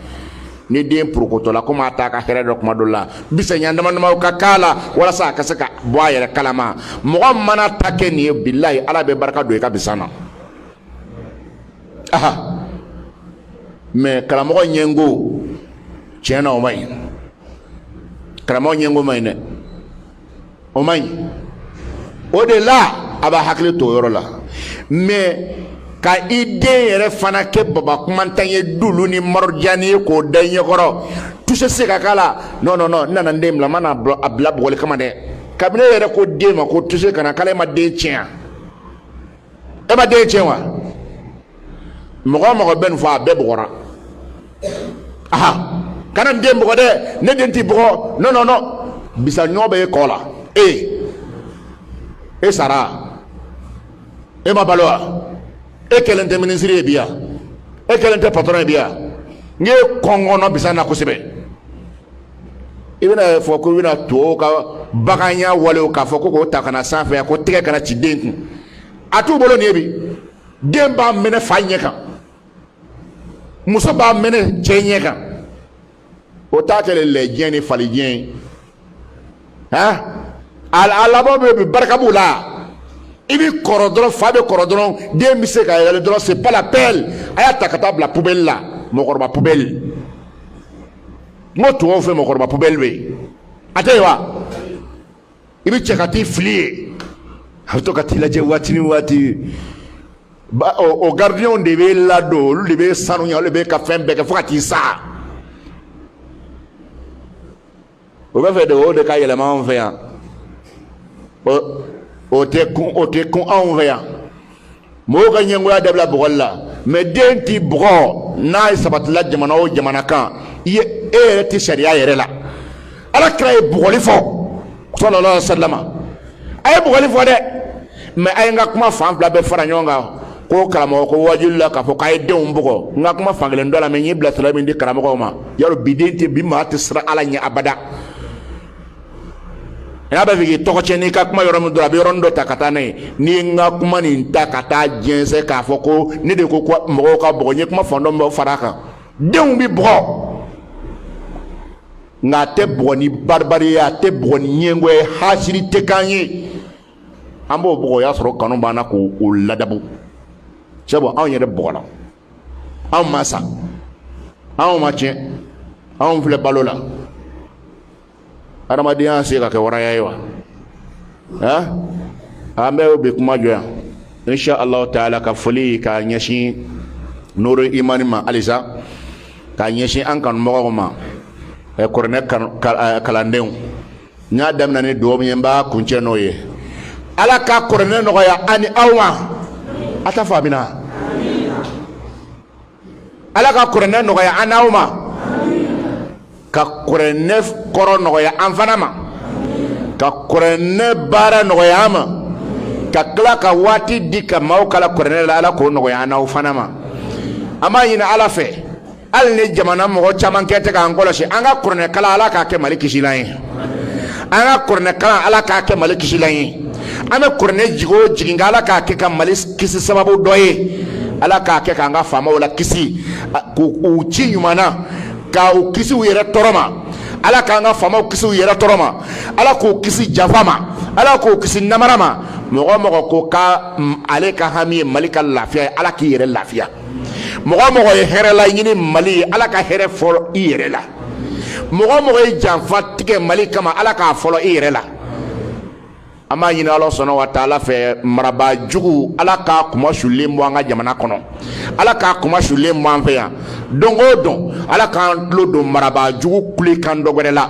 ni den porokotɔla komi a t'a ka hɛrɛ dɔn kuma dɔ la bisan ɲɛ dama damaw ka k'a la walasa a ka se ka bɔ a yɛrɛ kalama mɔgɔ mana a ta kɛ nin ye bilahi ala bɛ barika don i ka bisan na aha mɛ karamɔgɔ ɲɛngo tiɲɛ na o man ɲi karamɔgɔ ɲɛngo man ɲi dɛ o man ɲi o de la a b'a hakili to o yɔrɔ la mɛ ka i den yɛrɛ fana kɛ baba kumandan ye lulu ni marɔjani ye k'o da i ɲɛkɔrɔ tuse se ka k'a la non non non n nana n den bila n ma na a bila bugɔli kama dɛ kabini e yɛrɛ ko den ma ko tuse kana k'a la i ma den tiɲɛ e ma den tiɲɛ wa mɔgɔ o mɔgɔ bɛ nin fɔ a bɛɛ bugɔra aha kana n den bugɔ dɛ ne den tɛ bugɔ non non non bisa ɲɔ bɛ e kɔ la e e sara e ma balo wa e kɛlen tɛ minisiri ye bi yan e kɛlen tɛ patɔrɔn ye bi yan n ye kɔngɔnɔ bisa na kosɛbɛ i bɛna fɔ ko i bɛna tubabu ka baganya walew k'a fɔ ko k'o ta ka na s'an fɛ yan ko tɛgɛ kana ci den kun a t'u bolo nin ye bi den b'a minɛ fa ɲɛ kan muso b'a minɛ cɛ ɲɛ kan o ta kɛlen lɛjɛ ni falijɛ ye han ala b'o bɛɛ barika b'u la i bɛ kɔrɔ dɔrɔn fa bɛ kɔrɔ dɔrɔn den bɛ se ka yɛlɛ dɔrɔn c'est pas la peine a y'a ta ka taa bila poubelle la mɔgɔkɔrɔba poubelle n ko tubabu fɛ mɔgɔkɔrɔba pubɛli bɛ yen a tɛ yen wa i bɛ cɛ ka t'i fili yen a bɛ to ka t'i lajɛ waati ni waati o garidiɲɛw de b'i ladon olu de b'i sanuya olu de b'i ka fɛn bɛɛ kɛ fo ka t'i sa o bɛ fɛ de o de ka yɛlɛma anw fɛ yan o tɛ kun o tɛ kun anw fɛ yan. mɔgɔw ka ɲɛngoya dabila bugɔli la mɛ den ti bugɔ n'a ye sabatila jamana o jamana kan i ye e yɛrɛ tɛ sariya yɛrɛ la ala kira ye bugɔli fɔ sallallahu alaihi wasalama a ye bugɔli fɔ dɛ mɛ a ye n ka kuma fan fila bɛɛ fara ɲɔgɔn kan ko karamɔgɔ ko waajuli la k'a fɔ k'a ye denw bugɔ n ka kuma fan kelen dɔ lamɛn n ye bilasirali min di karamɔgɔw ma y'a dɔn bi den tɛ bi maa tɛ siran ala ɲɛ abada a b'a fɛ k'i tɔgɔ tiɲɛ n'i ka kuma yɔrɔ min dɔrɔn a bɛ yɔrɔnin dɔ ta ka taa n'a ye n'i ye n ka kuma nin ta ka taa jɛnsɛn k'a fɔ ko ne de ko mɔgɔw ka bugɔ n ye kuma fan dɔ min fara a kan denw bɛ bugɔ nka a tɛ bugɔ ni baribari ye a tɛ bugɔ ni ɲɛngoya ye hasidi tɛ k'an ye an b'o bugɔ o y'a sɔrɔ kanu b'an na k'o ladabu sabu anw yɛrɛ bugɔla anw ma sa anw ma tiɲɛ anw filɛ balo la adamadenya se ka kɛ waraya ye wa han an bɛ bi kuma jɔ yan insha allahu taala ka foli ka ɲɛsin nuru imani ma halisa ka ɲɛsin an kanubagaw ma kuranɛ kalandenw n y'a daminɛ ni dugawu min ye n b'a kuncɛ n'o ye ala ka kuranɛ nɔgɔya an ni aw ma a t'a fɔ amiina ala ka kuranɛ nɔgɔya an n'aw ma ka kuranɛ kɔrɔ nɔgɔya an fana ma ka kuranɛ baara nɔgɔya an ma ka tila ka waati di ka maaw kalan kuranɛ la ala k'o nɔgɔya an n'aw fana ma an b'a ɲini ala fɛ hali ni jamana mɔgɔ caman kɛ tɛ k'an kɔlɔsi an ka kuranɛ kalan ala k'a kɛ mali kisilan ye an ka kuranɛkalan Ala k'a kɛ Mali kisilan ye, an bɛ kuranɛ jigin o jigin Ala k'a kɛ ka Mali kisi sababu dɔ ye, Ala k'a kɛ k'an ka faamaw lakisi k'u ci ɲuman na, k'u kisi u yɛrɛ tɔɔrɔ ma, Ala k'an ka faamaw kisi u yɛrɛ tɔɔrɔ ma, Ala k'u kisi janfa ma, Ala k'u kisi namara ma, mɔgɔ o mɔgɔ ko k'ale ka hami ye Mali ka lafiya ye Ala k'i yɛrɛ lafiya mɔgɔ o mɔgɔ ye hɛrɛ laɲini mali ye ala ka hɛrɛ fɔlɔ i yɛrɛ la mɔgɔ o mɔgɔ ye janfa tigɛ mali kama ala k'a fɔlɔ i yɛrɛ la an b'a ɲini ala subhana wa taala fɛ marabaa jugu ala k'a kunmasulen bɔ an ka jamana kɔnɔ ala k'a kunmasulen bɔ an fɛ yan don o don ala k'an tulo don marabaa jugu kulekan dɔ wɛrɛ la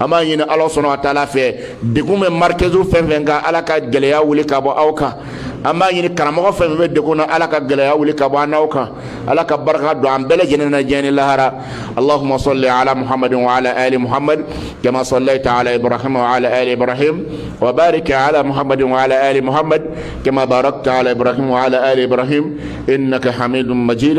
an b'a ɲini ala subhana wa taala fɛ degun bɛ marikezu fɛn fɛn kan ala ka gɛlɛya wuli ka bɔ aw kan an b'a ɲini karamɔgɔ fɛn fɛn bɛ degun na ala ka gɛlɛya wuli ka bɔ an n'aw kan ala ka barika don an bɛɛ lajɛlen na diɲɛ ni lahara allahumma salli ala muhammadin wa ala ali muhammad kama sallaita ala ibrahim wa ala ali ibrahim wa barik ala muhammadin wa ala ali muhammad kama barakta ala ibrahim wa ala ali ibrahim innaka hamidun majid